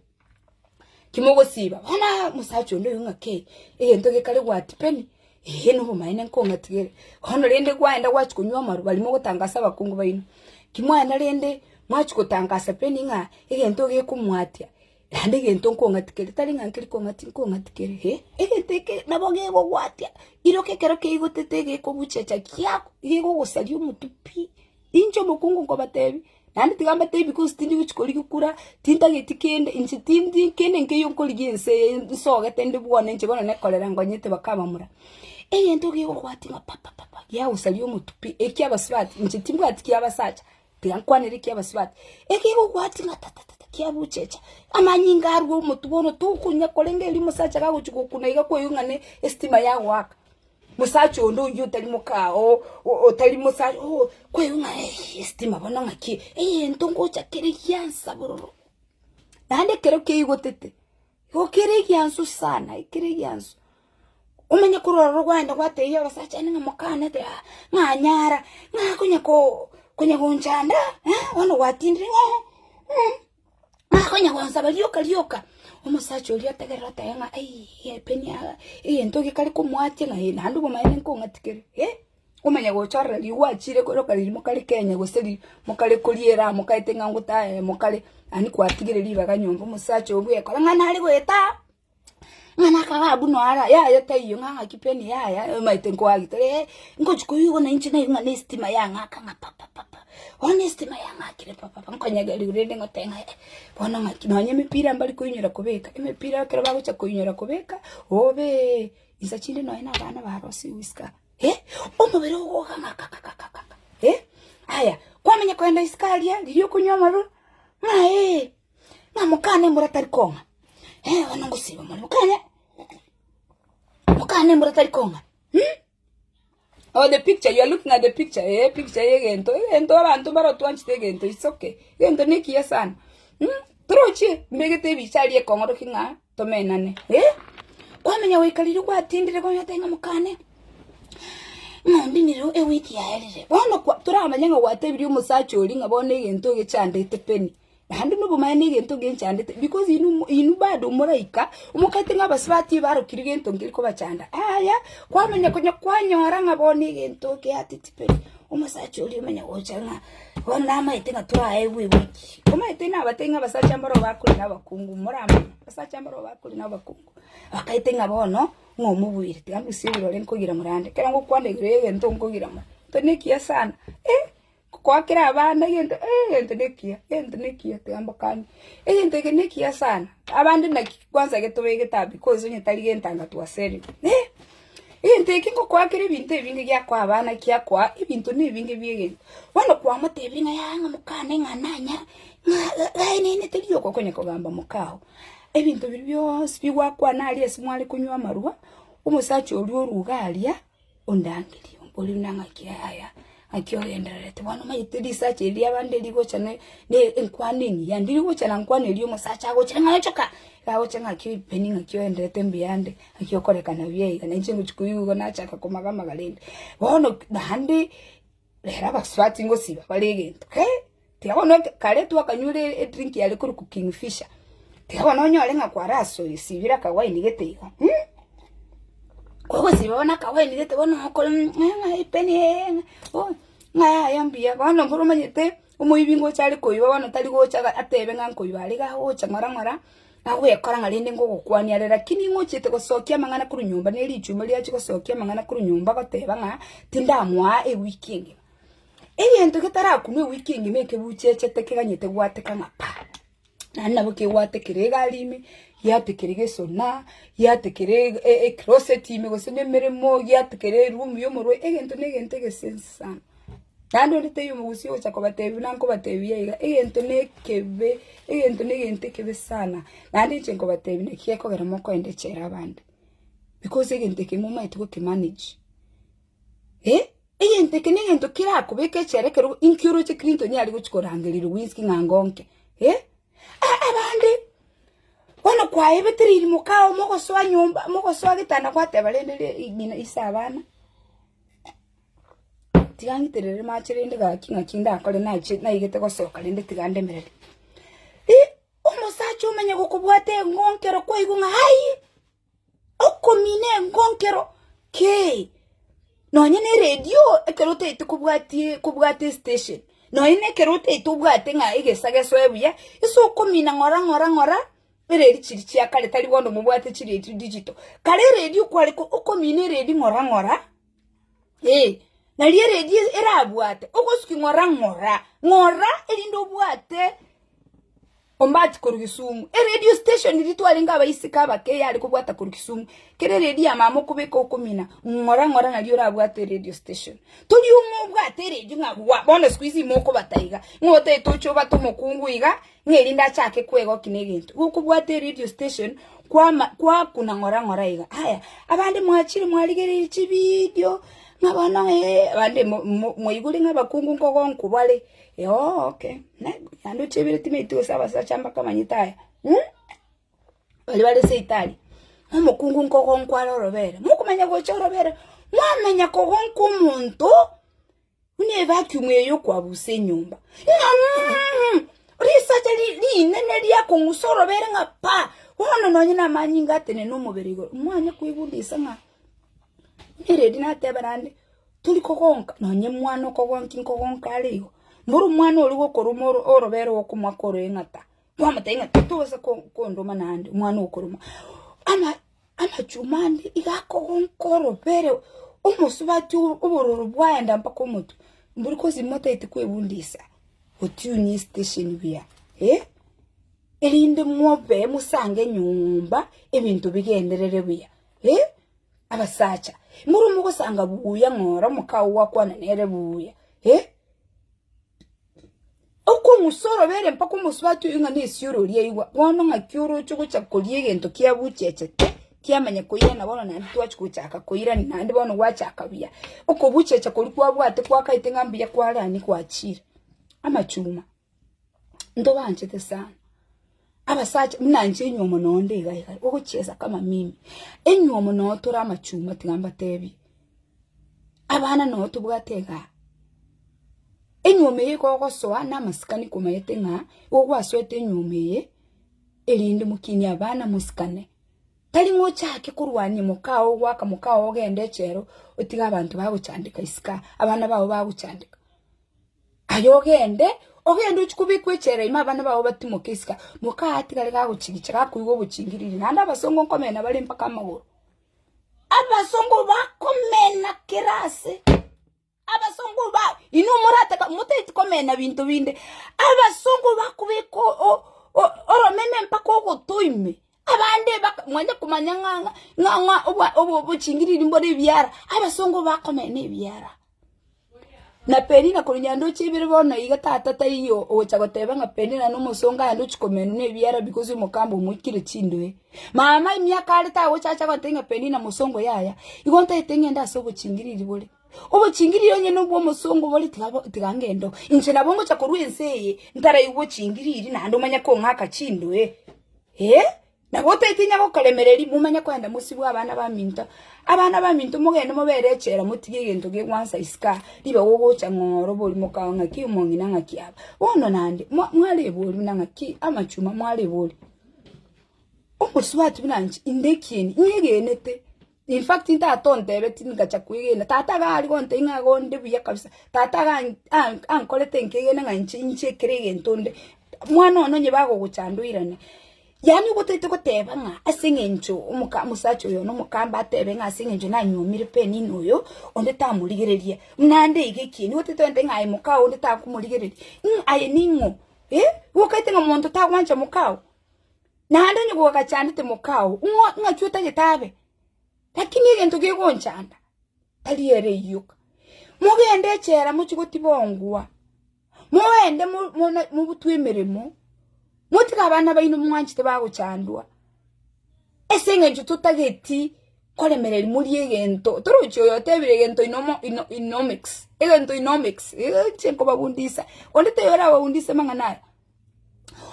kimogosiba, bono omosacha onde oyio ng'a kei, egento eke kare gwatipeni, eeh nobomaene nkong'atigere. Bono rende kwaenda gwachia konywa amaru baria mogotanga ase abakungu baino, kimwaenda rende mwachia gotangasa peni ng'a egento gekomwatia. Naende egento nkong'atikere, tari ng'a nkeri kong'a tinkong'atikere, ee, egento eke nabo gegogwatia iroka ekero keigotete gekobuchecha gia gegogosaria omotu pi. Inche omokungu nkobatebi, naende tiga mbatebi bikosi tindi gochi korigia kura, tintageti kende, inche tindi kende nkeiyo nkorigia ense eye nsogete ndi bwane inche bono nekorera ngonyete baka abamura. Egento gegogwatia ng'a papapapa, giagosaria omotu pi, ekiabasubati inche timbwati kiabasacha. Tigankwanere ekiabasio ati, Ekiagera obwati ng'a ta-ta-ta, kiabucha echa. Amanyinga arue omotuba ono tokonya korenge erio omosacha gagochia gokuna iga kwoigwa ng'a ne estima yagoaka. Mosacha onde oyio otari mokaa oo otari mosa oo kwoigwa ng'a eihh estima bono ng'aki, egento ngocha kere giansa bororo. Naende ekero kiaigotete. Igo kere egeanso sana, kere egeanso. Omenye korwa ororo gwaenda gwatebia abasacha aande ng'a mokanete aa, ng'a anyara, ng'a akonya ko- konyegonchanda, eh, bono gwatindire ng'a eh, eh, ng'a akonya gonsaba rioka rioka. Omosacha oria otegerere otebe ng'a aii, egepeni aa, egento eke kare komoatia ng'a eh, naende obomaene nkong'ati kere, eh. Omanya gochorera rigwa achire koiroka rimoka ri Kenya gose rimoka ri koriera amo mokaete ng'a ngotae amo kare ani kwatigire ribaga nyomba omosacha oo bweka ng'a nare goeta aa ng'a nakaba buna ara yaya taiyo ng'a ng'aki peni yaya omanyete nkoagete ee nkochi koiyo igo na inche nairwa ng'a na estima yang'aka ng'a papapapa bono estima yang'akire papapa nkonyegerigwa rende ngote ng'a ee bono ng'aki nonye emepira mbari koinyora kobeka emepira ekero bagocha koinyora kobeka obee insa chinde nonye na abana barosiwu isiko aa. Eh, omobere ogoga ng'a ka, ka, ka, ka, ka, ka. Eh, aya, kwamenya kogenda isiko aria riria okonywa amaroro, ng'a ee, ng'a mokane embura tari kong'a. Eh, bono ngosiba more, mokane, mokane embura tari kong'a, um. Oh the picture, you are looking at the picture, eh, picture ya egento, egento abanto mbaro twanchete egento, it's okay, egento nekiya sana, um, torochie mbegete ebicha aria ekong'oroki ng'a. tomenane. Eh! Kwamenya gwaikarire gwatindire kwamanyete ng'a mokane ng'a ondinire ewiki yaerire. Bono kwa- toramanye ng'a gwatebirie omosacha oria ng'a bono egento ogechandete peni. Naende buna obamanye na egento genchandete because inwe mo- inwe bado moraika omokate ng'a abasibaa ati barokire gento nkeria kobachanda. Aaya, kwamenya konya kwanyora ng'a bono egento okiateti peni. Omosacha oria omenya gocha ng'a bono namaete ng'a toraegwe ewiki, omanyete nabatebie ng'a abasacha mbaro bakore na abakungu moramanye, abasacha mbaro bakore na abakungu, bakaete ng'a bono ng'a omogwere tiga mbuse ebirore nkogira more ande, ekero ngokwanegire egento nkogira more, egento ne ekiya sana eh, gokoakera abana egento eh, egento ne ekiya, egento ne ekiya tiga mbokanie, egento eke ne ekiya sana, abande naki kwanza getobegete ahaa because onye tari gento anga twasereti eh. Egento eke ngokoa kere ebinto ebinge giakoa abana kiakoa ebinto na ebinge bi'egento. Bono kwamotebirie ng'a yaya ng'a mokane ng'a nanya ng'a ga- gaenenete rioka okonya kogamba moka oo. Ebinto biria bionsi bi gwakwana aria ase mware konywa amarwa, omosacha oria oruga aria ondangerie, oria nang'akire yaya. Naki ogendererete bono omanyete risacha eri riabande rigocha ne enkwano engiya, yende eri rigocha na nkwano eria omosacha agocha ng'a nyochoka, iga agocha ng'a naki oipeni ng'aki ogendererete mbuya ande, naki okorekana buya iga, na inche ngochia koigwa igo nachaka komagamaga rende. Bono naende, rero abasubati ngosiba bare egento kei. Tiga bono kare twakanywire edrink yare korokwa kingfisher, tiga bono onyore ng'a kwarasoe sibire akawine gete iga mh, kogosiba bono akawine gete bono okore mh ng'a ng'a epeni eh ng'a oh ng'a yaya mbuya, bono mboro omanyete omoibi ngocha are koiba bono tari gocha atebe ng'a nkoiba are iga agocha ng'ora ng'ora agwekora ng'a rende ngogokwania are lakini ng'a ochiete gosokia amang'ana korwa nyomba ne richuma riachia gosokia amang'ana korwa nyomba goteba ng'a tindamoa ewiki engima. Egento getarakunwa ewiki engima ekebuchechete keganyete gwateka ng'a pa! Naende nabo kegwatekire egari ime, giatekire gesona, giatekire ecloset ime gose na emeremo, giatekire eroom ya omorwaire, egento na egento egesense sana. Naende onde taiyo omogusi ogocha kobatebia buna nkobatebia iga, egento na ekebe, egento na egento ekebe sana. Naende inche nkobatebia naki gekogera mokoenda echela abande, because egento eke momaete goki manage. Eh, egento eke negento kerakobeka echara ekero inki oroche Clinton are gochia korangeria Lewinsky ng'a ngonke? Eh, ah abande, bono kwaebete ririmo kao mogosoa nyomba, mogosoa getanda gwateba rende ng'ina ise abana, tiga ng'iterere mache rende gaki ng'aki ndakore nache naigete gosoka rende tiga ndemerere. Eh, omosacha omenya gokobwate engonke ero kwaigwa ng'a aii. Okomina engonkero kee nonye ne radio ekero otaete kobwatie kobwate estation nonye na ekero otaete obwate ng'a egesa gesoe buya ase okomina ng'ora ng'ora ng'ora ereri chiri chia kare tari bono mobwate chiredi digital. Kare eredi okware okomina eredi ng'ora ng'ora eh nari eredi erabwate ogosuki ng'ora ng'ora ng'ora erinde obwate. Ombati korwa Kisumu. E radio station riria twarenge abaiseke abake yare kobwata korwa Kisumu. Kere radio ya mama okobeka okomina ng'ora ng'ora naria orabwate e radio station. Tori ong'e obwate e radio ng'a gwa bono sikuizi ime okobata iga ng'a otagete oche obate omokungu iga ng'a erinde achake kwegoki na egento. Igo okobwata e radio station kwama kwakuna ng'ora ng'ora iga. Aya abande mwachire mwarigereiri chi video ng'a bono ee abande mo mo mwaigure ng'a abakungu nkogonku bare. Eooke, naende ochebereti maito gose abasacha mbakamanyete aya, um baria bare ase Italia, na omokungu nkogonkwa are orobere, mokomanya gocha orobere, mwamenya kogonkwa omonto buna evacuum eye yokwabusa enyomba, ng'a um risacha rinene riakong'usa orobere ng'a pa, bono nonye na amanyinga atenene omobere igoro, mwanya koigwa odisa ng'a buna eredi nateba naende. Tori kogonka, nonye mwane okogonki nkogonka are igo. Mboro mwane oria gokoruma oro orobere okomoa koro eng'ata, kwamotebia ng'a totobasa ko- kondoma naende omwana okoruma. Ama amachuma ande iga akogonka orobere, omosubati o- obororo bwaenda mpaka omotwe. Mbori kosi motaete kwebundisa gotunia esitesheni buya, eh, erinde mobe mosange nyomba ebinto bigenderere buya, eh. Abasacha, imorwe mogosanga buya ng'ora omoka oo gwakwana nere buya, eh? Okong'usorobere mpaka omosubati oyio ng'a nesiorori aigwa bono ng'aki oroche gocha koria egento kiabuchechete kiamanya koirana bono naende twachi gochaka koirania naende bono gwachaka buya. Okobuchecha koria kwabwate kwakaete ng'a mbuya kwarani gwachire amachuma. ntobaanchete sana abasacha buna inche inyuo mono onde iga iga ogochesa kama mimi inyuo mono tore amachuma tiga mbatebie abana no tobwate igaa inyuo meye kogosoa na amasikani komayete ng'a ogwasoete inyuo meye erinde mokinie abana mosikane tari ng'a ochake korwania moka oo ogwaka moka oo ogende echero otige abanto bagochandeka isiko abana bao bagochandeka. Aye ogende, ogende ochie kobekwa echela ime abana bao batimoke isiko, moka atigare gagochigicha gakoigwa obochingiriri, naende abasongo nkomena bare mpaka amagoro. Abasongo bakomena kera ase, abasongo ba inwe morataka motaeti komena binto binde, abasongo bakobeka o- o- oromeme mpaka ogoto ime. Abande baka, mwanya komanya ng'a ng'a ng'a ng'a obwa obo obochingiriri mbore ebiara, abasongo bakomena ebiara. Na Penina korwa nyandoche ibere bono iga tata taiyo ogocha goteba ng'a Penina nomosongo aye ndochi komenwa na ebiara because omokamba omoikire chindoe. Mama emiaka are tagocha acha goteba ng'a Penina mosongo yaya, igo ntaete ng'ende ase obochingiriri bore. Obochingiriri onye nobwo omosongo bore tiga bo tiga ngende oo. Inche nabo ngocha korwa ense eye ntaraigwa obochingiriri naende omanye kong'aka chindoe. Ee, na gotetinya gokoremereria, momanye kogenda mosibwe abana baminto. Abana baminto mogende mobere echela, motige egento gegwansa isiko aa, ribe gogocha ng'a oo orobori mokaao ng'aki omong'ina ng'aki aba. Bono naende, mwa mwarebori buna ng'aki amachuma mwarebori. Omosubati buna inche, inde ekieni, inyegenete. In fact ntatontebeti ngacha kwegena. Tata iga ari gontebia ng'a iga onde buya kabisa. Tata iga ankorete nkegene ng'a inche ninche ekero egento onde. Mwana one onye bagogochanda oirane. Yaani igo otagete goteba ng'a ase eng'encho omoka omosacha oyo na omokamba atebe ng'a ase eng'encho nanyuomire Penina oyo, onde tamorigereria. Naende iga ekieni igo otagete goteba ng'a aye mokao onde takomorigereria. Aye ning'o? Eh? Igo okanyete ng'a monto tagwancha mokao? Naende onye gwogachandete mokao, ng'a ki otagete abe? Lakini egento gegonchanda, tari ere eyiyoka. Mogende echela mochie gotibongwa, moende mobutwe emeremo, motige abana baino mwanchete bagochandwa, ase eng'encho totageti koremereri morie egento. Torochi oyo otebire egento economics, egento economics, inche nkobagundisa, onde toyorabagundise amang'ana aya.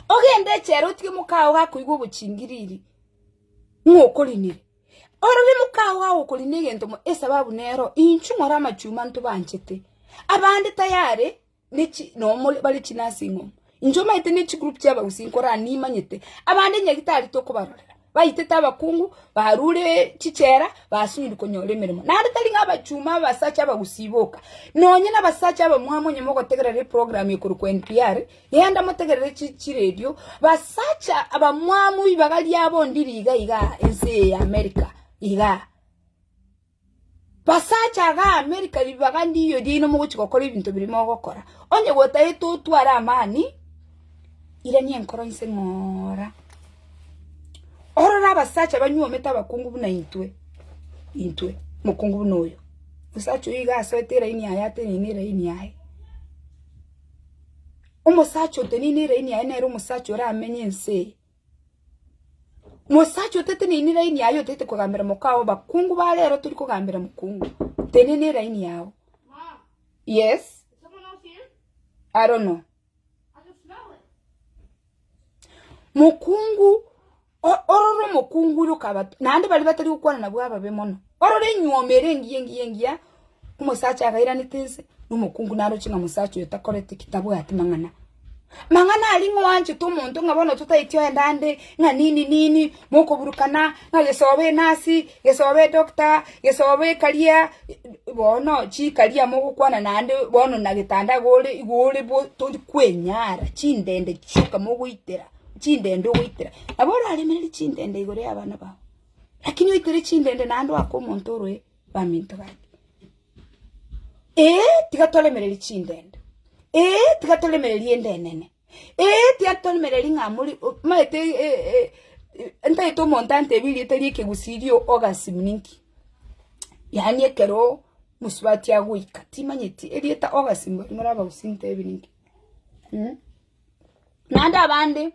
Ogende echere otige mokao gakoigwa obochingiriri ng'a okorinire. Orore mokao gagokorina egento mo esababu nero inchuo more amachuma ntobanchete. Abande tayari nechi nomore bare chinasing'o. Inche omanyete ne chigroup chi'abagusii nkorani nimanyete. Abande nyagitari tokobarorera. Baitete abakungu, barure chichela, basinyire konyora emeremo. Naende tari ng'a abachuma abasacha abagusii boka, nonye nabasacha abamwamu onye mogotegerera eprogramu ekorokwa NPR, genda motegerere chiredio, basacha abamwamu ribaga riabo ndiri iga igaa ense eye ya America igaa. Basacha aga a Amerika ribaga ndiiyo riaino mogochia gokora ebinto biria mogokora onye gotaete otware amani irania enkoro nse ng'oora orore abasacha banywomete abakungu buna intwe intwe mokungu buna oyo osacha oyo iga asoete elaini yaye ateneine elaini yaye omosacha oteneine elaini yaye nere omosacha oramenye nse eye. Mosacha otete neini raini yaye otete kogambera mokao abakungu ba rero tori kogambera mokungu tenena eraini yao yes arono mokungu ororo mokungu ore okaba naende bare batari gokwana nabwo ababe mono ororo enyuoma ere engiya engiya engiya. Omosacha agairanete ense nomokungu naro ching'a mosacha oyo takorete ki tabwati mang'ana. Mang'ana aria ng'a oanchete omonto ng'a bono totaeti oende ande ng'a nini nini mokoburukana ng'a gesoba enasi, gesoba edoctor, gesoba ekaria bono chikari amo ogokwana naende bono na getanda iga ore igo ore bo tori kwenyara chindende chioka mogoitera chindende ogoitera. Nabo oraremereri chindende igoro y'abana bao. Lakini oitere chindende naende oake omonto oroe. Baminto bake, ee, tiga toremererie chindende, ee, tiga toremererie ende enene, ee, tiga toremererie ng'a mori maete ntagete omonto antebi erieta ri'ekegusii erio August buna inki, yaani ekero mosubati agoika timanyeti erieta August mbwati more abagusii ntebi ninki naende abande.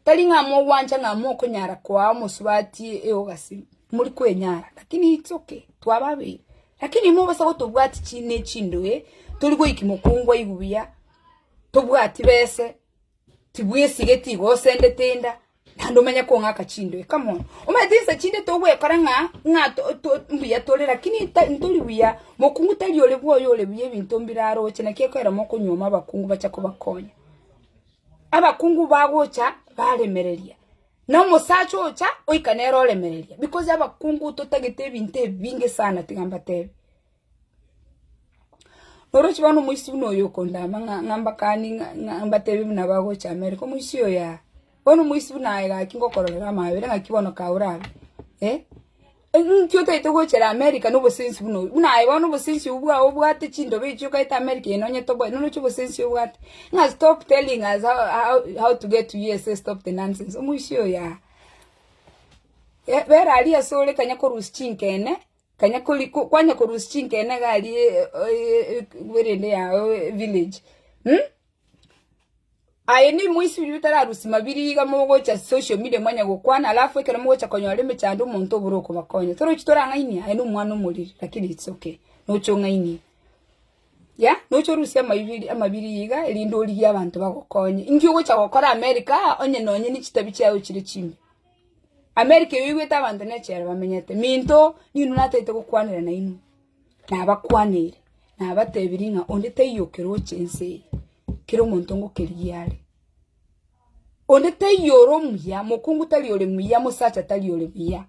Tari ng'a mogwancha ng'a mokonyara koa omosubati eogasi mori kwenyara lakini it's okay twaba abere lakini imo obasa gotobwati chi ne chindoe tori goiki mokongwa aigwe buya tobwati bese tibwesigeti igo osendete enda naende omenye kong'aka chindoe come on omanyete insa chinde togwekora ng'a ng'a to to mbuya tore lakini ta ntori buya mokungu tari ore bwoye ore buya ebinto mbiraroche naki ekeremo okonyuoma abakungu bache kobakonya. Abakungu bagocha baremereria, na omosacha ocha oika nere oremereria, because abakungu totagete ebinto ebinge sana tiga mbatebie. Orochi bono omoisibwa buna oyo okondama ng'a mbakanie ng'a mbatebie buna bagocha America, omoisia oyo aa, bono omoisia buna aye gaki ngokororera amaabera ng'aki bono kaye orabe eh. Inki otaete gochera America na obosensi buna oyo? Buna aye bono obosensi obwo bwao obwate chindoba echio okaete America enonyete oboe none oche obosensi obwate. Ng'a stop telling us how, how, how to get to USA stop the nonsense. Omoisi oyo aa. E, bera aria ase ore kanya korusia chinkene, kanya kori ko kwanya korusia chinkene iga aria e, e, e, werende yago e village. Mh? Aye nemoisibiri bire bitararusia mabiri iga mogocha social media mwanya gokwana alafu ekero mogocha konyora emechando omonto obore okobakonya. Torochi torang'ainie aye nomwana omoriri lakini it's okay nocha ong'ainie. Yea nocha orusie amaibiri amabiri iga erinde origie abanto bagokonye. Inki ogocha gokora America aa onye nonye ne chitabia chiago chire chimbe. America oigwete abanto nechera bamenyete. Minto nigo natagete gokwanera nainwe. Nabakwaneire, nabatebirie ng'a onde taiyo okeroche ense eye, kera omonto ngokerigia are. Onde taiyo ore omuya, mokungu tari ore muya, mosacha tari ore muya.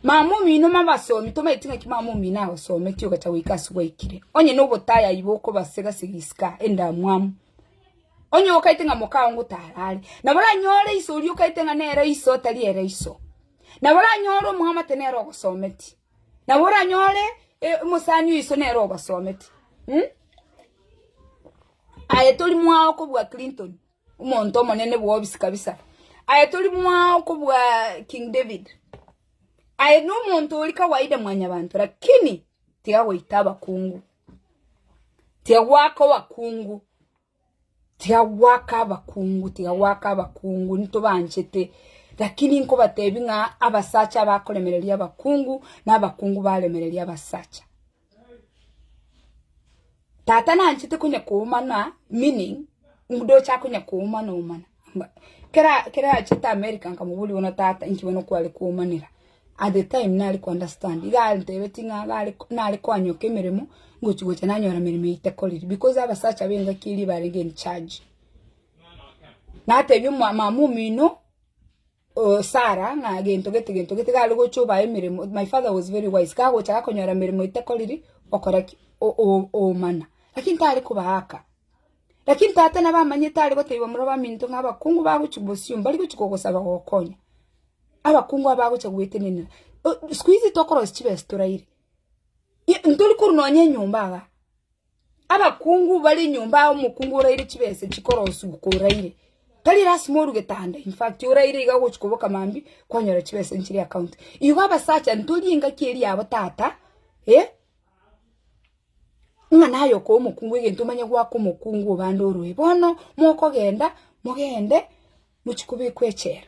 Mama omino mabasomi, tomaeti ng'aki mama omino agosometi ogacha goika ase gwaikire. Onye nobotayayi bokobasega segisika endamwamu. Onye okaete ng'a mokao ngotara are, nabo oranyore iso oria okaete ng'a nere iso tari ere iso. Nabo oranyore omwamate nere ogosometi. Nabo oranyore omosani o iso nere obasomete. Aye tori mwao kobua Clinton, omonto omonene bwobisi kabisa. Aye tori mwao kobua King David. Aye nomonto ori kawaida mwanyabanto lakini tiga goita abakungu. Tiga goaka obakungu. Tiga gwaka abakungu, tiga gwaka abakungu, ntobanchete. Lakini nkobatebi ng'a abasacha abakoremereria abakungu, na abakungu baremereria abasacha. Tata nanchete konya koomana, meaning ndoche akonya koomana omana. Kera achete America nkamoboria bono tata inki bono kware komanera at the time nare ko understand iga antebetie ng'a iga nare koanyoka emeremo ngochi gocha nanyora emeremo eye itakoriri because abasacha be engaki eria ebarenge in charge natebia mama omino. Sarah ng'a gento gete gento gete gare gocha obae emeremo, my father was very wise, gagocha gakonyora emeremo etekoriri okora ki? omana, lakini tare kobaaka. Lakini tata nabo amanyete are goteba moro baminto ng'a abakungu bagochia bosio mbari gochia kogosaba gokonya, abakungu aba bagocha goetenenera siku hizi tokorosia chibesa toraire, ntori korwa nonya enyomba igaa. Abakungu bare nyomba ya omokungu oraire chibesa chikorosuka oraire tari lasima oru getanda in fact oraire iga ogochi koboka mambia kwanyora chibesa nchire account igo abasacha ntori engaki eri yabo tata ng'a naye okoa omokungu egento omanye goaka omokungu obande oroe bono mokogenda mogende mochie kobekwa echela.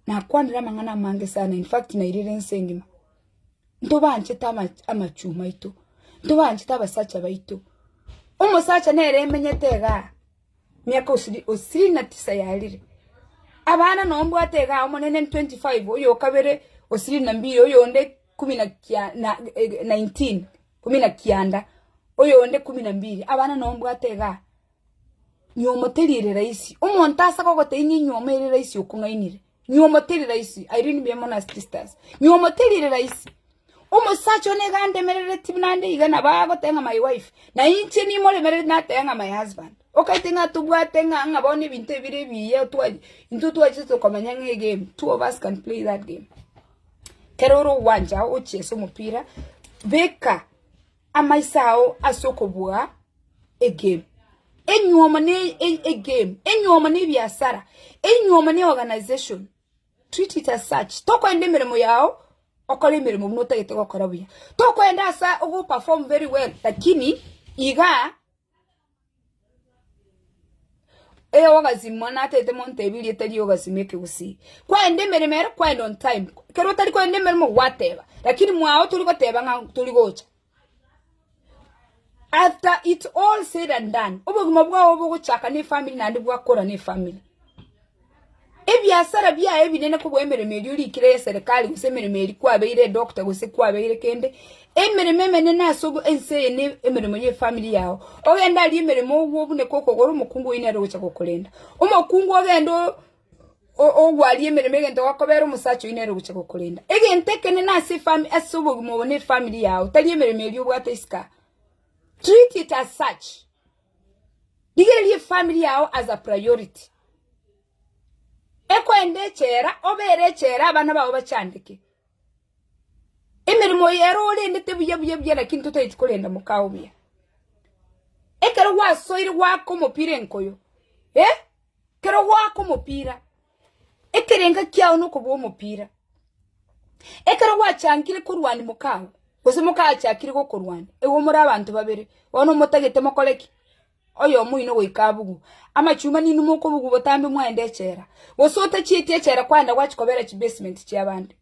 nakwanire amang'ana amange sana in fact nairire ense ngima, ntobaanchete amachumba aito, ntobaanchete abasacha baito, omosacha nere emenyete igaa miaka ishirini na tisa yarire, abana noo mbwate igaa omonene ni twenty five, oyo okabere ishirini na mbili, oyonde kumi na nineteen, kumi na kianda, oyonde kumi na mbili, abana noo mbwate igaa. Nyuomo teri ere rahisi. Omonto ase gogotainia nyuomo ere rahisi okong'ainire. Nyuomo teri rahisi. I read me muna sisters. Nyuomo teri ere rahisi. Omosacha one iga andemerereti buna nde iga nabo agoteba ng'a my wife. Na inche nimoremereti nateba ng'a my husband. Okaete ng'a tobwate ng'a ng'a bono ebinto ebire ebiya twari intwe twachete komanya ng'a egame two of us can play that game. Kero ore ogwancha gochia ase omopira beka. Amaiso ao ase okobua egame enyuomo ne egame enyuomo ne ebiasara enyuomo ne organization treat it as such tokoenda emeremo yao okore emeremo buna otagete gokora buya tokoenda ase ogo perform very well lakini iga. Oyo ogasima natete montebirie tari ogasima ekegusii. Kwenda emeremo ero kwenda on time. Ekero otari kwenda emeremo gwateba. Lakini mwao tori goteba ng'a tori gocha. After it all said and done, obogima bwao bogochaka ne efamiri naende bwakora ne efamiri. Ebiasara biao ebinene kobua emeremo eria orikire ye serikali gose emeremo eria kwabeire edocta gose kwabeire kende, emeremo emenene ase ense eye ne emeremo ye efamiri yao. Ogende aria emeremo ogwo obune ka okogora omokungu oyio nere ogocha gokorenda. Omokungu ogende ogwe aria emeremo egento gakobera omosacha oyio nere ogocha gokorenda. Egento ekenene ase efami ase obogima obo ne efamiri yao tari emeremo eria obwate isiko aa. Treat it as such. Rigereria efamiri yao as a priority. Ekoenda echela, obere echela abana bao bachandeke. Emeremo eye ero orendete buya buya buya lakini totaeti korenda mokao buya. Ekero gwasoire gwaka omopira enkoyo, eh! Ekero gwaka omopira, ekerenga kiao nokobua omopira. Ekero gwachakire korwania mokao, gose mokao achakire gokorwania, igo more abanto babere, bono omotagete mokore ki? oyomo oino goika abugwe. Amachuma nainwe mokobugwa botambe mwaende echela. Gose otachieti echela kwaenda gwachi kobera chibasement chiabande.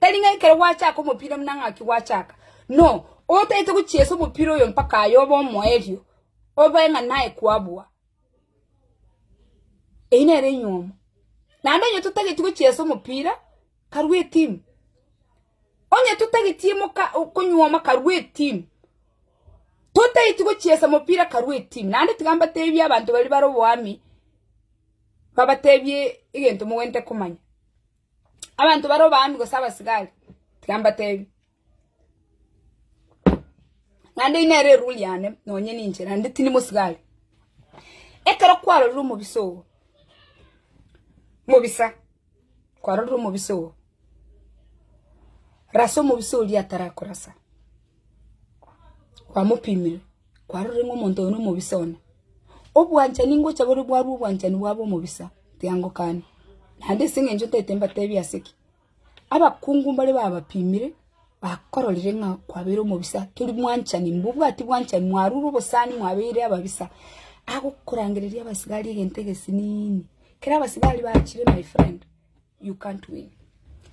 Tari ng'a ekero gwachaka omopira buna ng'aki gwachaka, no, otagete gochiesa omopira oyo mpaka aye obe omoerio, obe ng'a naye kwabua. Eyio nere enyiomo. Naende onye totageti gochiesa omopira, karue etimu. Onye totageti moka konyuoma karue etimu. Totageti gochiesa omopira karue etimu. Naende tiga mbatebie abanto baria bare oboami, babatebie egento mogwenerete komanya. Abanto bare obaami gose abasigari, tiga mbateebie, naende eyio nere erule yane nonye ninche naende tindi mosigari. Ekero kwarorire omobisa ogo, mobisa, kwarorire omobisa ogo, rasa omobisa oria atarakorasa. Kwamopimire, kwarorire ng'a omonto oyo nomobisa one. Obwanchani ngocha bore bwarue obwanchani bwabo omobisa, tiango kane. Naende ase eng'encho ntaete mbatebie ase ki, abakungu mbare babapimire, bakororire ng'a kwabeire omobisa, tori mwanchani, mbobwati bwanchani, mwarure obosani mwabeire ababisa, agokorangereria abasigari egento egesiniini, kera abasigari bachire my friend, you can't win.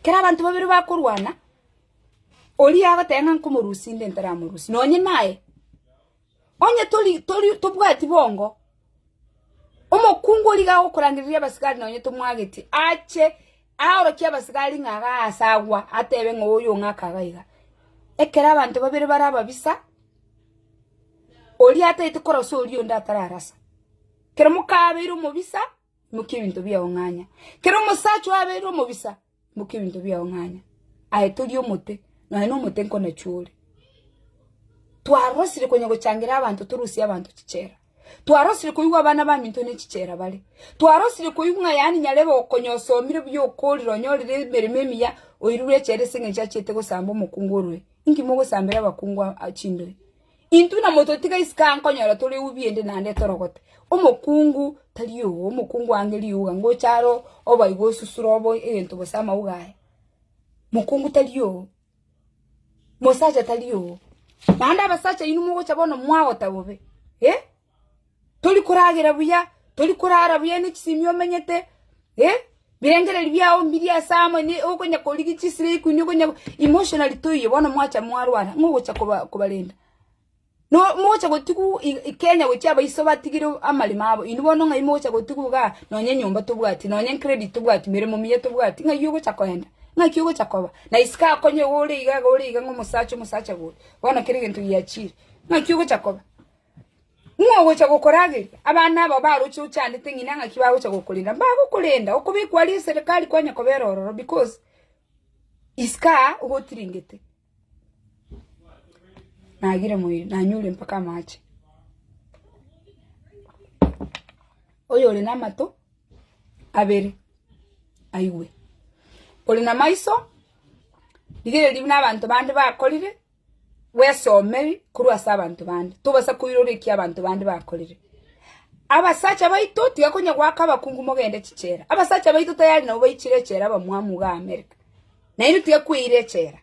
Kera abanto babere bakorwana. Oria agoteba ng'a nkomorusia inde ntaramorusia, nonye naye. Onye tori tori tobwati bongo, omokungu oria iga agokorangereria abasigari nonye tomwageti, ache aorokie abasigari ng'a iga aase agwa, atebe ng'a oyo ong'aka iga iga. Ekero abanto babere bare ababisa, oria ataete korosia oria onde atararasa. Ekero mokabeire omobisa. imokia ebinto biao ng'anya. Kera omosacha oabeire omobisa, imokia ebinto biao ng'anya. Aye tori omote, nonya nomote nkonachwa ore. Twarosire konya gochangera abanto torusie abanto chichera. Twarosire koigwa abana baminto ne chichera bare. Twarosire koigwa ng'a yaani nyarebe okonya osomire buya okorire onyorire emeremo emiya, oirure echela ase eng'encho achiete gosamba omokungu orue. Inki mogosambera abakungu chindoi? Intwe namototiga isiko aa nkonyora tore ubiende naende torogote. Omokungu tari ogo, omokungu ange riuga ngocha aro obai gosusura obo egento gose amauga aya. Mokungu tari ogo, mosacha tari ogo. Naende abasacha inwe mogocha bono mwagota bobe. torikoragera buya, torikorara buya nechisemi omenyete, eh, birengererio biao mbiri ase amo ne okonya korigia chisira ikumi okonya emotionally toiyo bono mwacha mwarwana ng'o ogocha koba kobarenda. No mogocha gotigu i Kenya gochia abaiso batigire amaremo abo, inwe bono ng'ai mogocha gotigu igaa nonye enyomba tobwati, nonye encredit tobwati, meremo miya tobwati, ng'ai ogocha koenda? Ng'aki ogocha koba? Na isiko akonye iga ore iga iga ore iga ng'omosacha omosacha boria, bono kera egento giachire, ng'aki ogocha koba? Mogocha gokorageria, abana aba baroche ochandete ng'ina ng'aki bagocha gokorenda, mbagokorenda, okobekwa aria eserekari kwanya kobera ororo because isiko aa ogotiringete. Nagire moyo nanyure mpaka amache. Oyore na amato abere aigwe, ore na maiso rigereria buna abanto bande bakorire. bw'esomeri korwa ase abanto bande, tobasa koirora eki abanto bande bakorire. Abasacha baito tiga konya goaka abakungu mogende chichera, abasacha baito tayari nabo baichire echera abamwamu iga America, nainwe tiga kweira echera.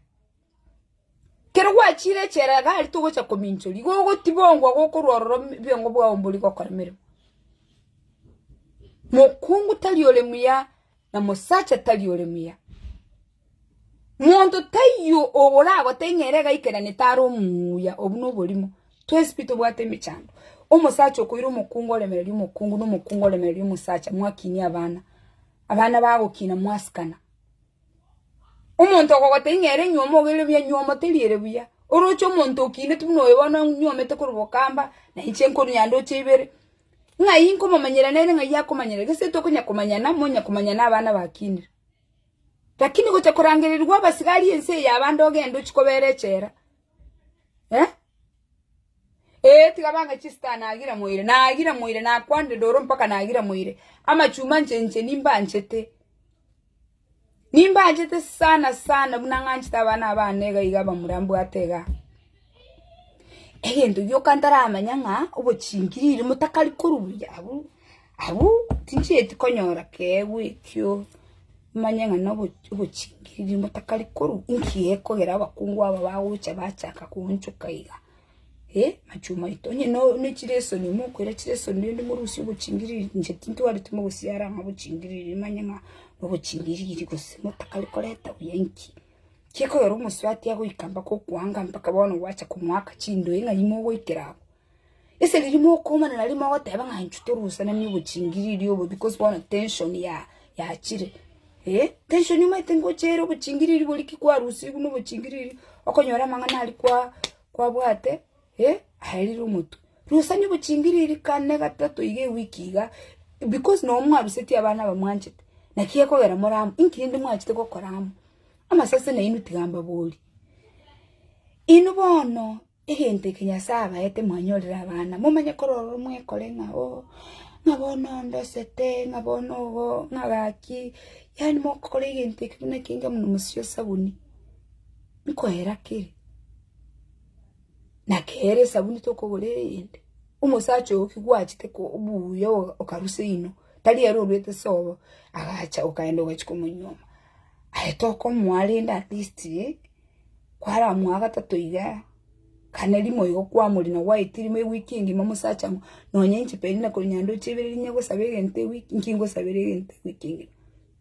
Kero gwachire echera iga aria togocha kominchoria, igo ogotibongwa gokorwa ororo biongo bwao mbori gokora emeremo. Mokungu tari ore muya na mosacha tari ore muya. Monto taiyo oragote ng'a ere gaikenanete are omuya, obwo na oborimo. Twensi pi tobwate emechando. Omosacha okoira omokungu oremereria omokungu na omokungu oremereria omosacha mwakinie abana. Abana bagokina mwasikana. Omonto ogogote ng'a ere nywomo ogerire buya nywomo teri ere buya. Oroche omonto okineti buna oyo bono nywomete korwa bokamba na inche nkoru nyandwete ibere. Ng'ai nkomomanyera nere ng'ai akomanyera, gese tokonyakomanyana, monyakomanyane abana bakinire. Lakini gocha korangererigwa abasigari ense eye abande ogende ochie kobera echela eh? Ee tiga bange chisitani agira moire, nagira moire nakwanire doro mpaka nagira moire, amachuma nche inche nimbanchete. Nimbaachete sana sana buna ng'anchete abana abana iga iga abamura mbwate iga. Egento gioka ntaramanya ng'a obochingiriri motakari korubugia abwo abwo tinchieti konyora keegwa ekio manye ng'a nobo obochingiriri motakari koru inki gekogera abakungu aba bagocha bachaka koonchoka iga. Eh, machio maito, onye no ne chiresoni, mokoira chiresoni rende morusie obochingiriri, inche tintwareti mogosiara ang'e obochingiriri, manye ng'a nobochingiriri gose, motakare koreta buya inki? Kekogera omosubati agoika mpaka okoanga mpaka bono gwacha komoaka chindwei ng'a rimo ogoikera abwo. Ase riria mokoumana nario mogoteba ng'a inchutorosana nobochingiriri obo because bono tension ya yachire, Ee, taicho nimanyete ngochiere obochingiriri boria ki kwarusigwe na obochingiriri, okonyora amang'ana aria kwa kwabwate, eh, aye rire omotwe. Rusania obochingiriri kane gatato iga ewiki iga, because noo mwaruseti abana aba mwanchete, naki gekogera more amo, inki rende mwachete gokora amo? Amasese nainwe tiga mbaborie. Inwe bono. Egento eke Nyasae abaete mwanyorire abana, momanye korwa ororo mwekore ng'a oo, ng'a bono ondosete, ng'a bono ogo, ng'a gaki, yaani mokora egento eke buna ekenge buna omosio esabuni, nkoera kere, na kere esabuni tokogora eyende, omosacha ogo ki gwachete ko buya okarusia eyino, tari ere orwete sobo, agacha okaenda ogachia komonywoma, aye tokomoa rende at least. Kwaramwa agatato iga, kane rimo igo kwamorire na gwaetia rimo ewiki engima omosacha ng'a nonya inche peri nakori nyandoche ibere ninya gosaba egento ewiki, inki ngosabera egento ewiki engima?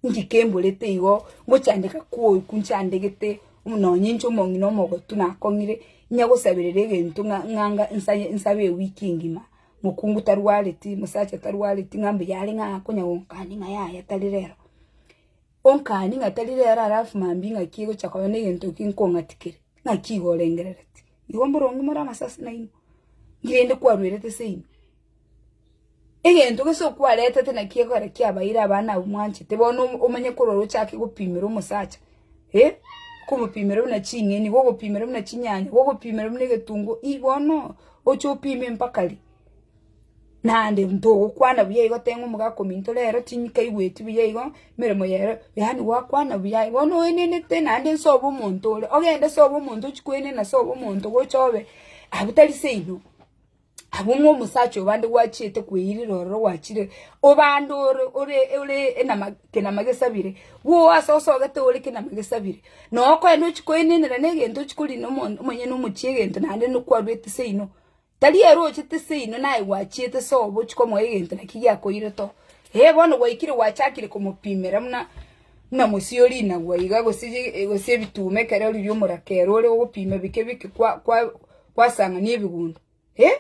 Inki kemborete igo ngochandeka kwoigwa nchandegete buna nonya inche omong'ina omogotu nakong'ire ninya gosaberera egento ng'a ng'anga nsaye nsabe ewiki engima, mokungu tarwareti, mosacha tarwareti ng'a mbuya are ng'a akonya gonkania ng'a yaya tari rero. Onkani ng'a tari rero arafu mambia ing'aki egochia koba negento ki nkong'ati kere, ng'aki igo orengerereti. Igo mboronge more amase ase naino, ngerende kwarwerete ase ime. Egento gese okwaretete naki ekogera kiabaeire abana abwo mwanchete bono omanye korora ochake gopimera omosacha eh, komopimera buna ching'eni, igo ogopimera buna chinyanya, igo ogopimera buna egetunguo, ih bono, oche opime mpaka rii. Naende ntogokwana buya igo teng'u mogakominto rero tinyikaigweti buya igo emeremo yero yaani gwakwana buya igo bono oenenete naende nsobe omonto ore ogende sobe omonto ochi koenena sobe omonto gocha obe abwo tari seino abwo ng'o omosacha obande gwachiete kweirira ororo gwachire obande ore ore ore enama kenama gesabire bwogo ase osogete ore kenama gesabire nogo okoenda ochi koenenera na egento ochi korina omonto omonyene omochie egento naende nokwarwete seino Tari ere ochete seino naye gwachiete soa obochie komoa egento naki giakoire to. Ee, bono gwaikire gwachakire komopimera buna buna mosio rinagwa iga gose gose ebituuma ekero riria omoraka ere ore ogopima bike bike kwa kwa kwasang'ania ebigunda. Ee,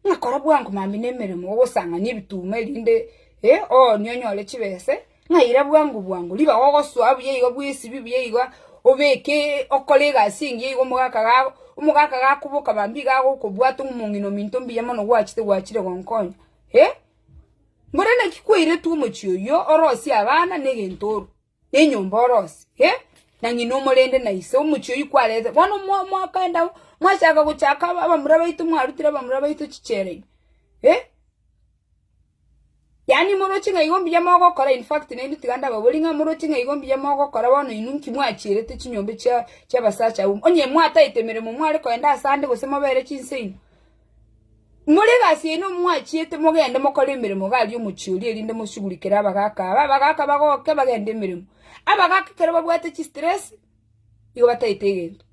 ng'a kora bwango mambia na emeremo ogosang'ania ebituuma erinde ee oonye onyore chibese. Ng'a ira bwango bwango ribaga ogosoa buya igo bw'esibie buya igo obeke okore egasi engiya igo omogaka gago, omogaka gakoboka bambi iga agokobwata ng'a omong'ina ominto mbuya mono gwachete gwachire gonkonya. Eh! Mbore naki kwairetwe omochie oyio orosie abana na egento oru, na enyomba orosie. Eh! Na ng'ina omorende na ise omochie oyio kwarete. Bono mwa mwakaenda mwachaka gochaka abamura baito mwarutire abamura baito chichere inwe. Eh! Yaani moroche ng'a igo mbuya mogokora in fact naende tiga ndababorie ng'a moroche ng'a igo mbuya mogokora bono inwe inki mwachierete chinyomba chia chiabasacha abwo onye mwataete emeremo mware kogenda ase ande gose mobere chinseino. More egasi yaino mwachiete mogende mokore emeremo iga aria omochie oria erinde moshughulikere abagaka aba, abagaka bagoke bagende emeremo. Abagaka ekero babwate chistress igo bataete egento.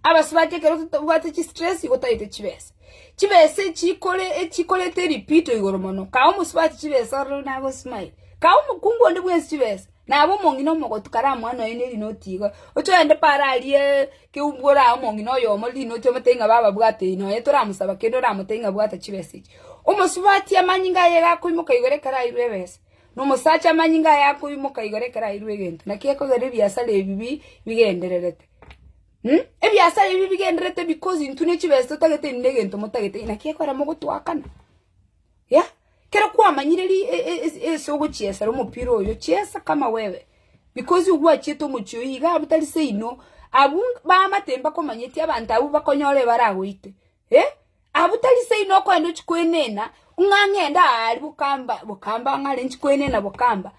Abasubati ekero totabwate chistress igo totagete chibesa. Chibesa echi kore echi korete ripito igoro mono. Kae omosubati chibesa ororo nabe osmile. Kae omokungu onde bwensi chibesa nabe omong'ina omogotu kare amo mwana oye nerinoti iga. Oche ogende paaro arie keumbwa orae omong'ina oyomo rinoti omotebi ng'a baba bwate eye nonya toramosaba kende oramotebi ng'a bwata chibesa echi. Omosubati amanyinga aye iga akoimoka igoro ekero airwe ebesa. Nomosacha amanyinga aya akoimoka igoro ekero airwe egento, naki gekogera ebiasara ebibe bigendererete. Ebiasara ebibe bigendererete because intwe ne chibesa totagete inde egento motagete inde, naki gekogera mogotuakana. Yeah, ekero kwamanyire ase ogochiesera omopira oyo, chiesa kama wewe because obwachete omochie oyio iga abwo tari seino, abwo bamato mbakomanyeti abanto abwo bakonyora ebaragoite. Eh, abu tari seino okoenda ochikwenena, ng'a ng'ende aa aria bokamba, bokamba ng'a are nchikwenena bokamba.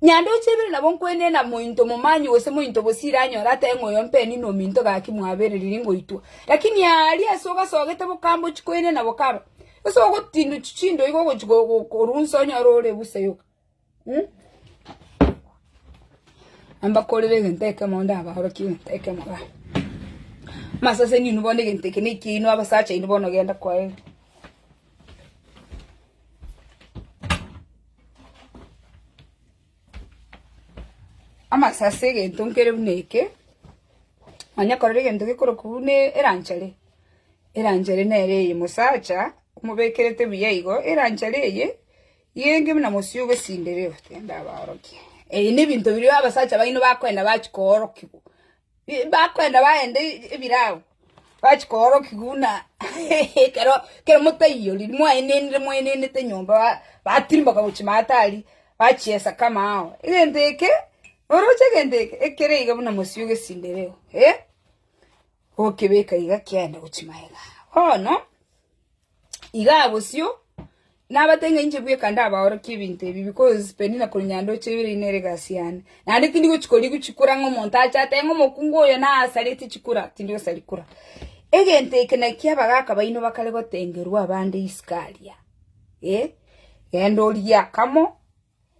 Nyande oche ibere nabo nkwenena mointo momanyi gose mointo bosire anyore atebe ng'a oyo mpeni na ominto gaki mwabereriri ngoitwa. Lakini aa aria ase ogasogete bokamba ochikwenena bokamba, ase ogotindwa chichindo igo ogochi go- go- korwa inse onyore ore busa yoka. Mbakorere egento ekemo, onde abaorokie egento ekemo igaa. Masaseni inwe bono egento eke nekia inwe abasacha inwe bono genda kwaye. Amasasi egento nkere buna eke, onye korora egento gekorokwa buna eranchari, eranchari nere eye mosacha, omobekerete buya igo, eranchari eye. Rigerererio buna mosio ogosinderia ogotenda abaorokia. Ebi nebinto biria abasacha baino bakoenda bachia koorokigwa. Bakoenda baende ebirago, bachia koorokigwa buna ekero ekero motaiyori mwaenenire mwaenenete nyomba ba batirimboka gochia maata aria bachiesa kama ao. Egento eke oroche egento eke ekere iga buna mosio ogesinderio okebeka iga kiagenda gochia magega. Bono. Igaa bosio, nabate ng'a inche bweka ndabaorokie ebinto ebi, because Penina korwa nyandoche ebere inere egasi yane. Naende tindi gochia korigwa chikura ng'a omonto ache atebe ng'a omokungu oyo nasarete chikura, tindi gosara rikura. Egento eke naki abagaka baino bakare gotengerwa abande isiko aria, eh, genda orie akamo.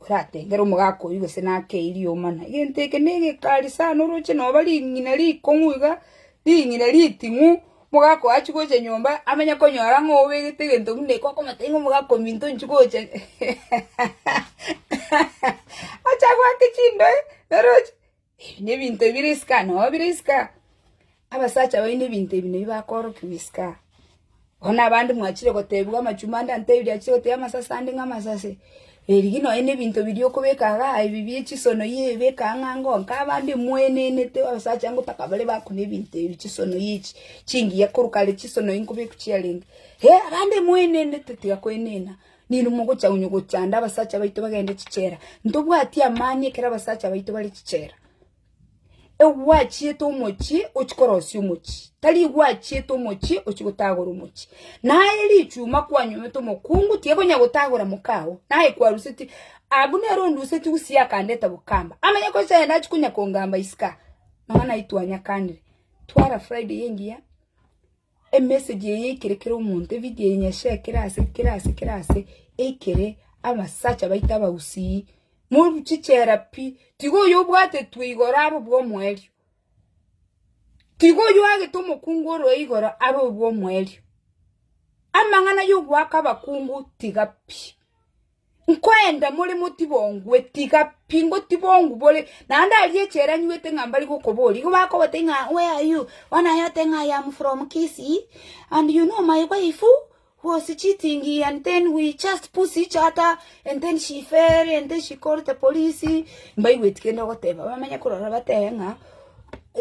Oratebere omogaka oyio gose nake ei rioma, na egento eke negekari sana oroche noba ring'ina rikong'u iga, ring'ina riting'u, omogaka oyo achie gocha nyomba amenye konyora ng'a obegete egento buna eke okomotebia ng'a omogaka ominto nchi gocha ache abwate chindoe naroche. Ebi nebinto ebire isiko aa, nao bire isiko aa. Abasacha baino ebinto ebi nabio bakoorokigwa isiko aa. Bono abande mwachire goteebigwa amachumba ande anto erio riachire goteebigwa amasase ande ng'a amasase. Erigio nonye nebinto biria okobeka iga aa ebi bie chisono iye beka aa ng'a ngo nka abande mwenenete abasacha ngotaka bare bakune ebinto ebi chisono iye echi, chingiya korwa kare chisono inkobekwa chiarenge. Hee abande mwenenete tiga kwenena, Ninwe mogocha onye gochanda abasacha baito bagende chichera, ntobwati amani ekero abasacha baito bare chichera? Egwachiete omochie ochie korosia omochie, tari gwachiete omochie ochie gotagora omochie. Naye richuma kwanyuomete omokungu tiekonya gotagora mokao, naye kwaruseti abwo nero onduseti usie akandeta bokamba. Amanye kochenda achie konya kongamba isiko aa, nonya naye twanyakanire. Twara Friday engiya. Emessage eye yaikire kera omonto, evideo eye nya share kera ase, kera ase, kera ase, yaikere abasacha baito abagusii, moru chichera pi, tiga oyo obwatetwe igoro abe bwomoerio, tiga oyo oagete omokungu oroe igoro abe obwomoerio, amang'ana yogoaka abakungu tiga pi. Nkoenda more motibongwe, tiga pi ngotibongwa bore, naende aria echela nywete ng'a mbare gokoboria. Igo bakogotebi ng'a where are you? Bono aye otebe ng'a I am from Kisii, and you know my wife was cheating and then we just push each other, and then she fell, and then she called the police, mbaigweti kende ogoteba, bamanye korora batebe ng'a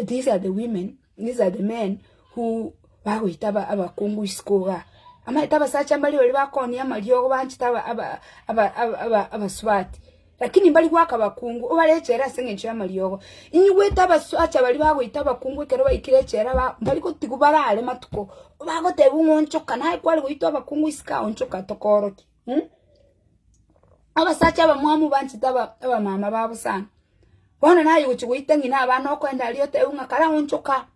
these are the women. These are the men who bagoita aba abakungu isiko igaa, amaete abasacha mbaria baria bakooni amariogo banchete aba aba aba aba aba abasubati, lakini mbari goaka abakungu obare echere ase eng'encho y'amariogo. Inyigwete abasacha baria bagoita abakungu ekero baikire echela ba mbari gotigwa barare matuko, bagoteba ng'a onchoka naye kware goitwa abakungu isiko onchoka tokoorokia. Abasacha abamwamu banchete abamama babo sana. Bono naye ogochia goita ng'ina abana okoenda aria otebe ng'a kare aonchoka.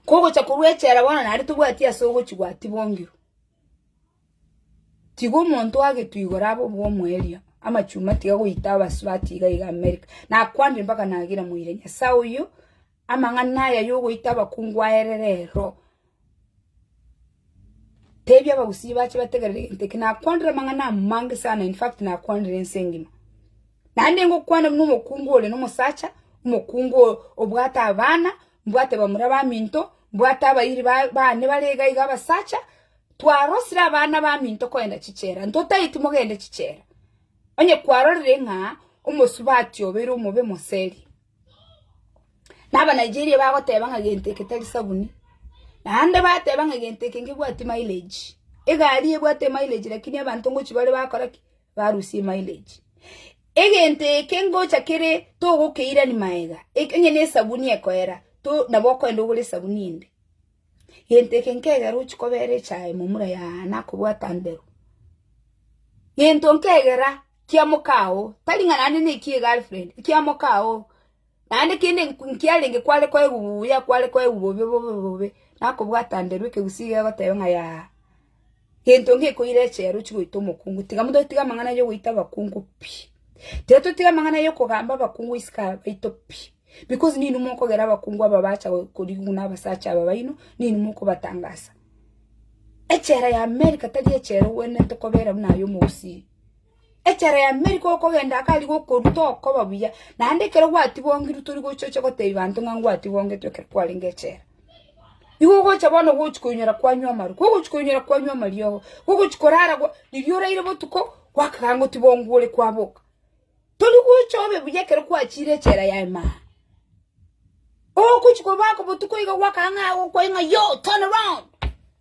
Kogocha korwa echela bono naende tobwati ase ogochia gwatibongirwe. Tiga omonto oagetwe igoro abe obwomoerio. Amachuma tiga goita abasubati iga iga America. Nakwambia mpaka nagire moyire. Nyasae oyio amang'ana aya yogoita abakungu aerere ero. Tebia abagusii bache bategerere egento eke. Nakwanire amang'ana amange sana, in fact nakwanire ense engima. Naende ngokwana buna omokungu ore nomosacha, omokungu obwate abana, mbwate bamura baminto, mbwate abayiri bane bare iga iga abasacha, twarosire abana baminto kogenda chichera, ntotaeti mogende chichera. Onye kwarorire ng'a omosubati obeire omobe moseri. Na Abanigeria bagoteba ng'a gento eke tari sabuni, naende bateba ng'a gento eke nkebwati mileage, egari ebwate mileage lakini abanto ngochia bare bakora ki? barusia emileage. Egento eke ngocha kere togokeirani maega, onye nesabuni ekoera, to- nabo okogenda ogore esabuni ende. Gento eke nkegere ochi kobera echaye momura yaye na kobwata mbero. Gento nkegera kia moka oo tari ng'a naende ne eki egirlfriend ekia moka oo naende kende nkiarenge kware koegwa buya kware koegwa bobe bobe bobe na kobwata mbero ekegusii gegoteba ng'a yaah. Gento ngekoira echela ochi goita omokungu. Tiga mototiga amang'ana yogoita abakungu pi. Tiga totiga amang'ana yokogamba abakungu isiko abaito pi. Because ninwe mokogera abakungu aba bacha korigwa nabasacha aba baino, ninwe mokobatangasa. Echela ya America tari echela ogwenerete kobera buna aye omogusii. Echara ya Meri gokogenda akarigia okoruta okoba buya, naende ekero gwatibongirwe tori gocha oche gotebia banto ng'a ngwatibongetwe ekero kwarenge echela. Nigo ogocha bono gochi koinyora kwanywa amaru, kogochi koinyora kwanywa amariogo, kogochi korara gwa riria oraire botuko gwakagara ngotibongwa ore kwaboka. Tori gocha obe buya ekero kwachire echela yaye maa. Ogochi kobakwa botuko iga gwakagara ng'a agokwa ng'a yoo turn around.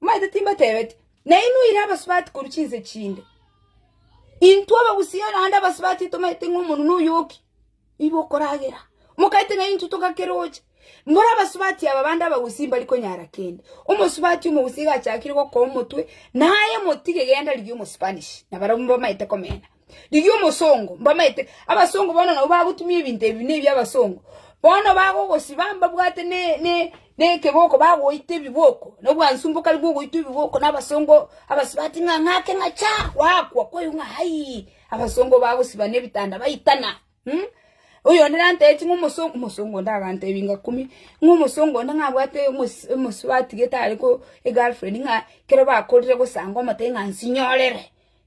Mbaito timbatebeti, Nainwe ire abasubati korwa chinse chinde. Intwe abagusii naende abasubati tomaete ng'a Omonene oyo oki nigo okoragera. Mokaete ng'a intwe togakeroche. Mbora abasubati aba bande abagusii mbari konyara kende. Omosubati omogusii iga achakire gokoa omotwe, naye motige genda rigia Omospanish, nabarabwo mbamaete komena. Rigia omosongo, mbamaete. Abasongo bono nabwo bagotumia ebinto ebi buna ebi'abasongo. Bono bagogosiba mbabwate nekeboko bagoita ebiboko. Nabwo bwansumbokare bwa ogoitwa ebiboko na abasongo abasibati ng'a ng'ake ng'a cha! Gwakwa koigwa ng'a aii! Abasongo bagosiba na ebitanda baitana. Oyonde nantebeti ng'a omosongo, omosongo onde agantebi ng'a kumia, ng'a omosongo onde ng'a abwate omosi omosubati gete are ko egirlfriend ng'a ekero bakorire gosanga omote ng'a nsinyorere.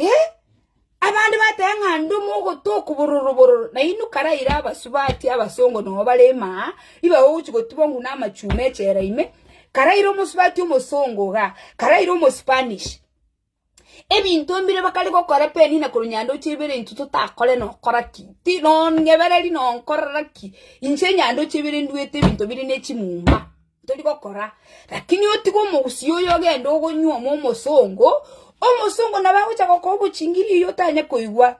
Ee, abande bateba ng'a ande omogotoku bororo bororo, na inwe karaire abasubati abasongo noo bare ime aa, ibe aye ogochia gotubwa ng'u namachuma echela ime, karaire omosubati omosongo iga, karaire omospanish. Ebinto mbire bakare gokora penina korwa nyanda oche ibere intwe totakore nokora ki? Ti nonyebereri nonkorera ki? Inche nyanda oche ibere nduete ebinto bire ne chimuma. Tori gokora, lakini otige omogusii oyo ogende ogonywa amo omosongo, omosongo nabo agocha gokoa obochingiririri otanye koigwa.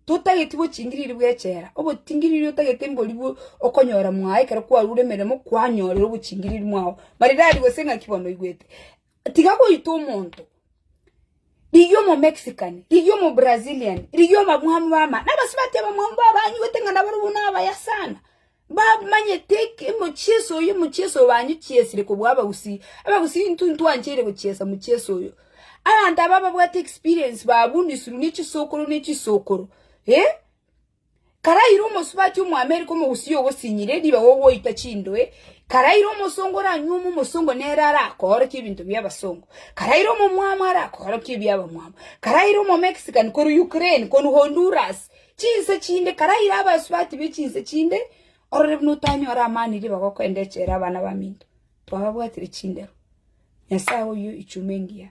Totageti bochingiririri bw'echela, obotingiriri otagete mboria okonyora mwaye ekero kwarure emeremo kwanyorire obochingiririri mwao maridadi gose ng'aki bono oigwete. Tiga goita omonto, rigia omo Mexican, rigia omo Brazilian, rigia omobwamo bama, nabasubati abamwamu baba anywete ng'a naboro buna abaya sana. Mbamanyete ki omochieso oyo, omochieso oyo banyochiesire kobua abagusi, abagusi intwe intwancheire gochiesa omochieso oyo. Abanto aba babwate experience babunisirwe ne chisokoro ne chisokoro eh, karaire omosubati omwami ere komogusi ogosinyire ribaga ogoita chindoe, karaire omosongo oranyuomwe omosongo nere arakoorokia ebinto bia abasongo, karaire omomwamu arakoorokia ebia abamwamu, karaire omomexican korwa Ukraine, korwa Honduras. Chinse chinde, karaire abasubati be chinse chinde, orore buna otanyora amani riba gokoenda echela abana baminto, twababwatire chindero. Nyasae oyio ichuma engiya.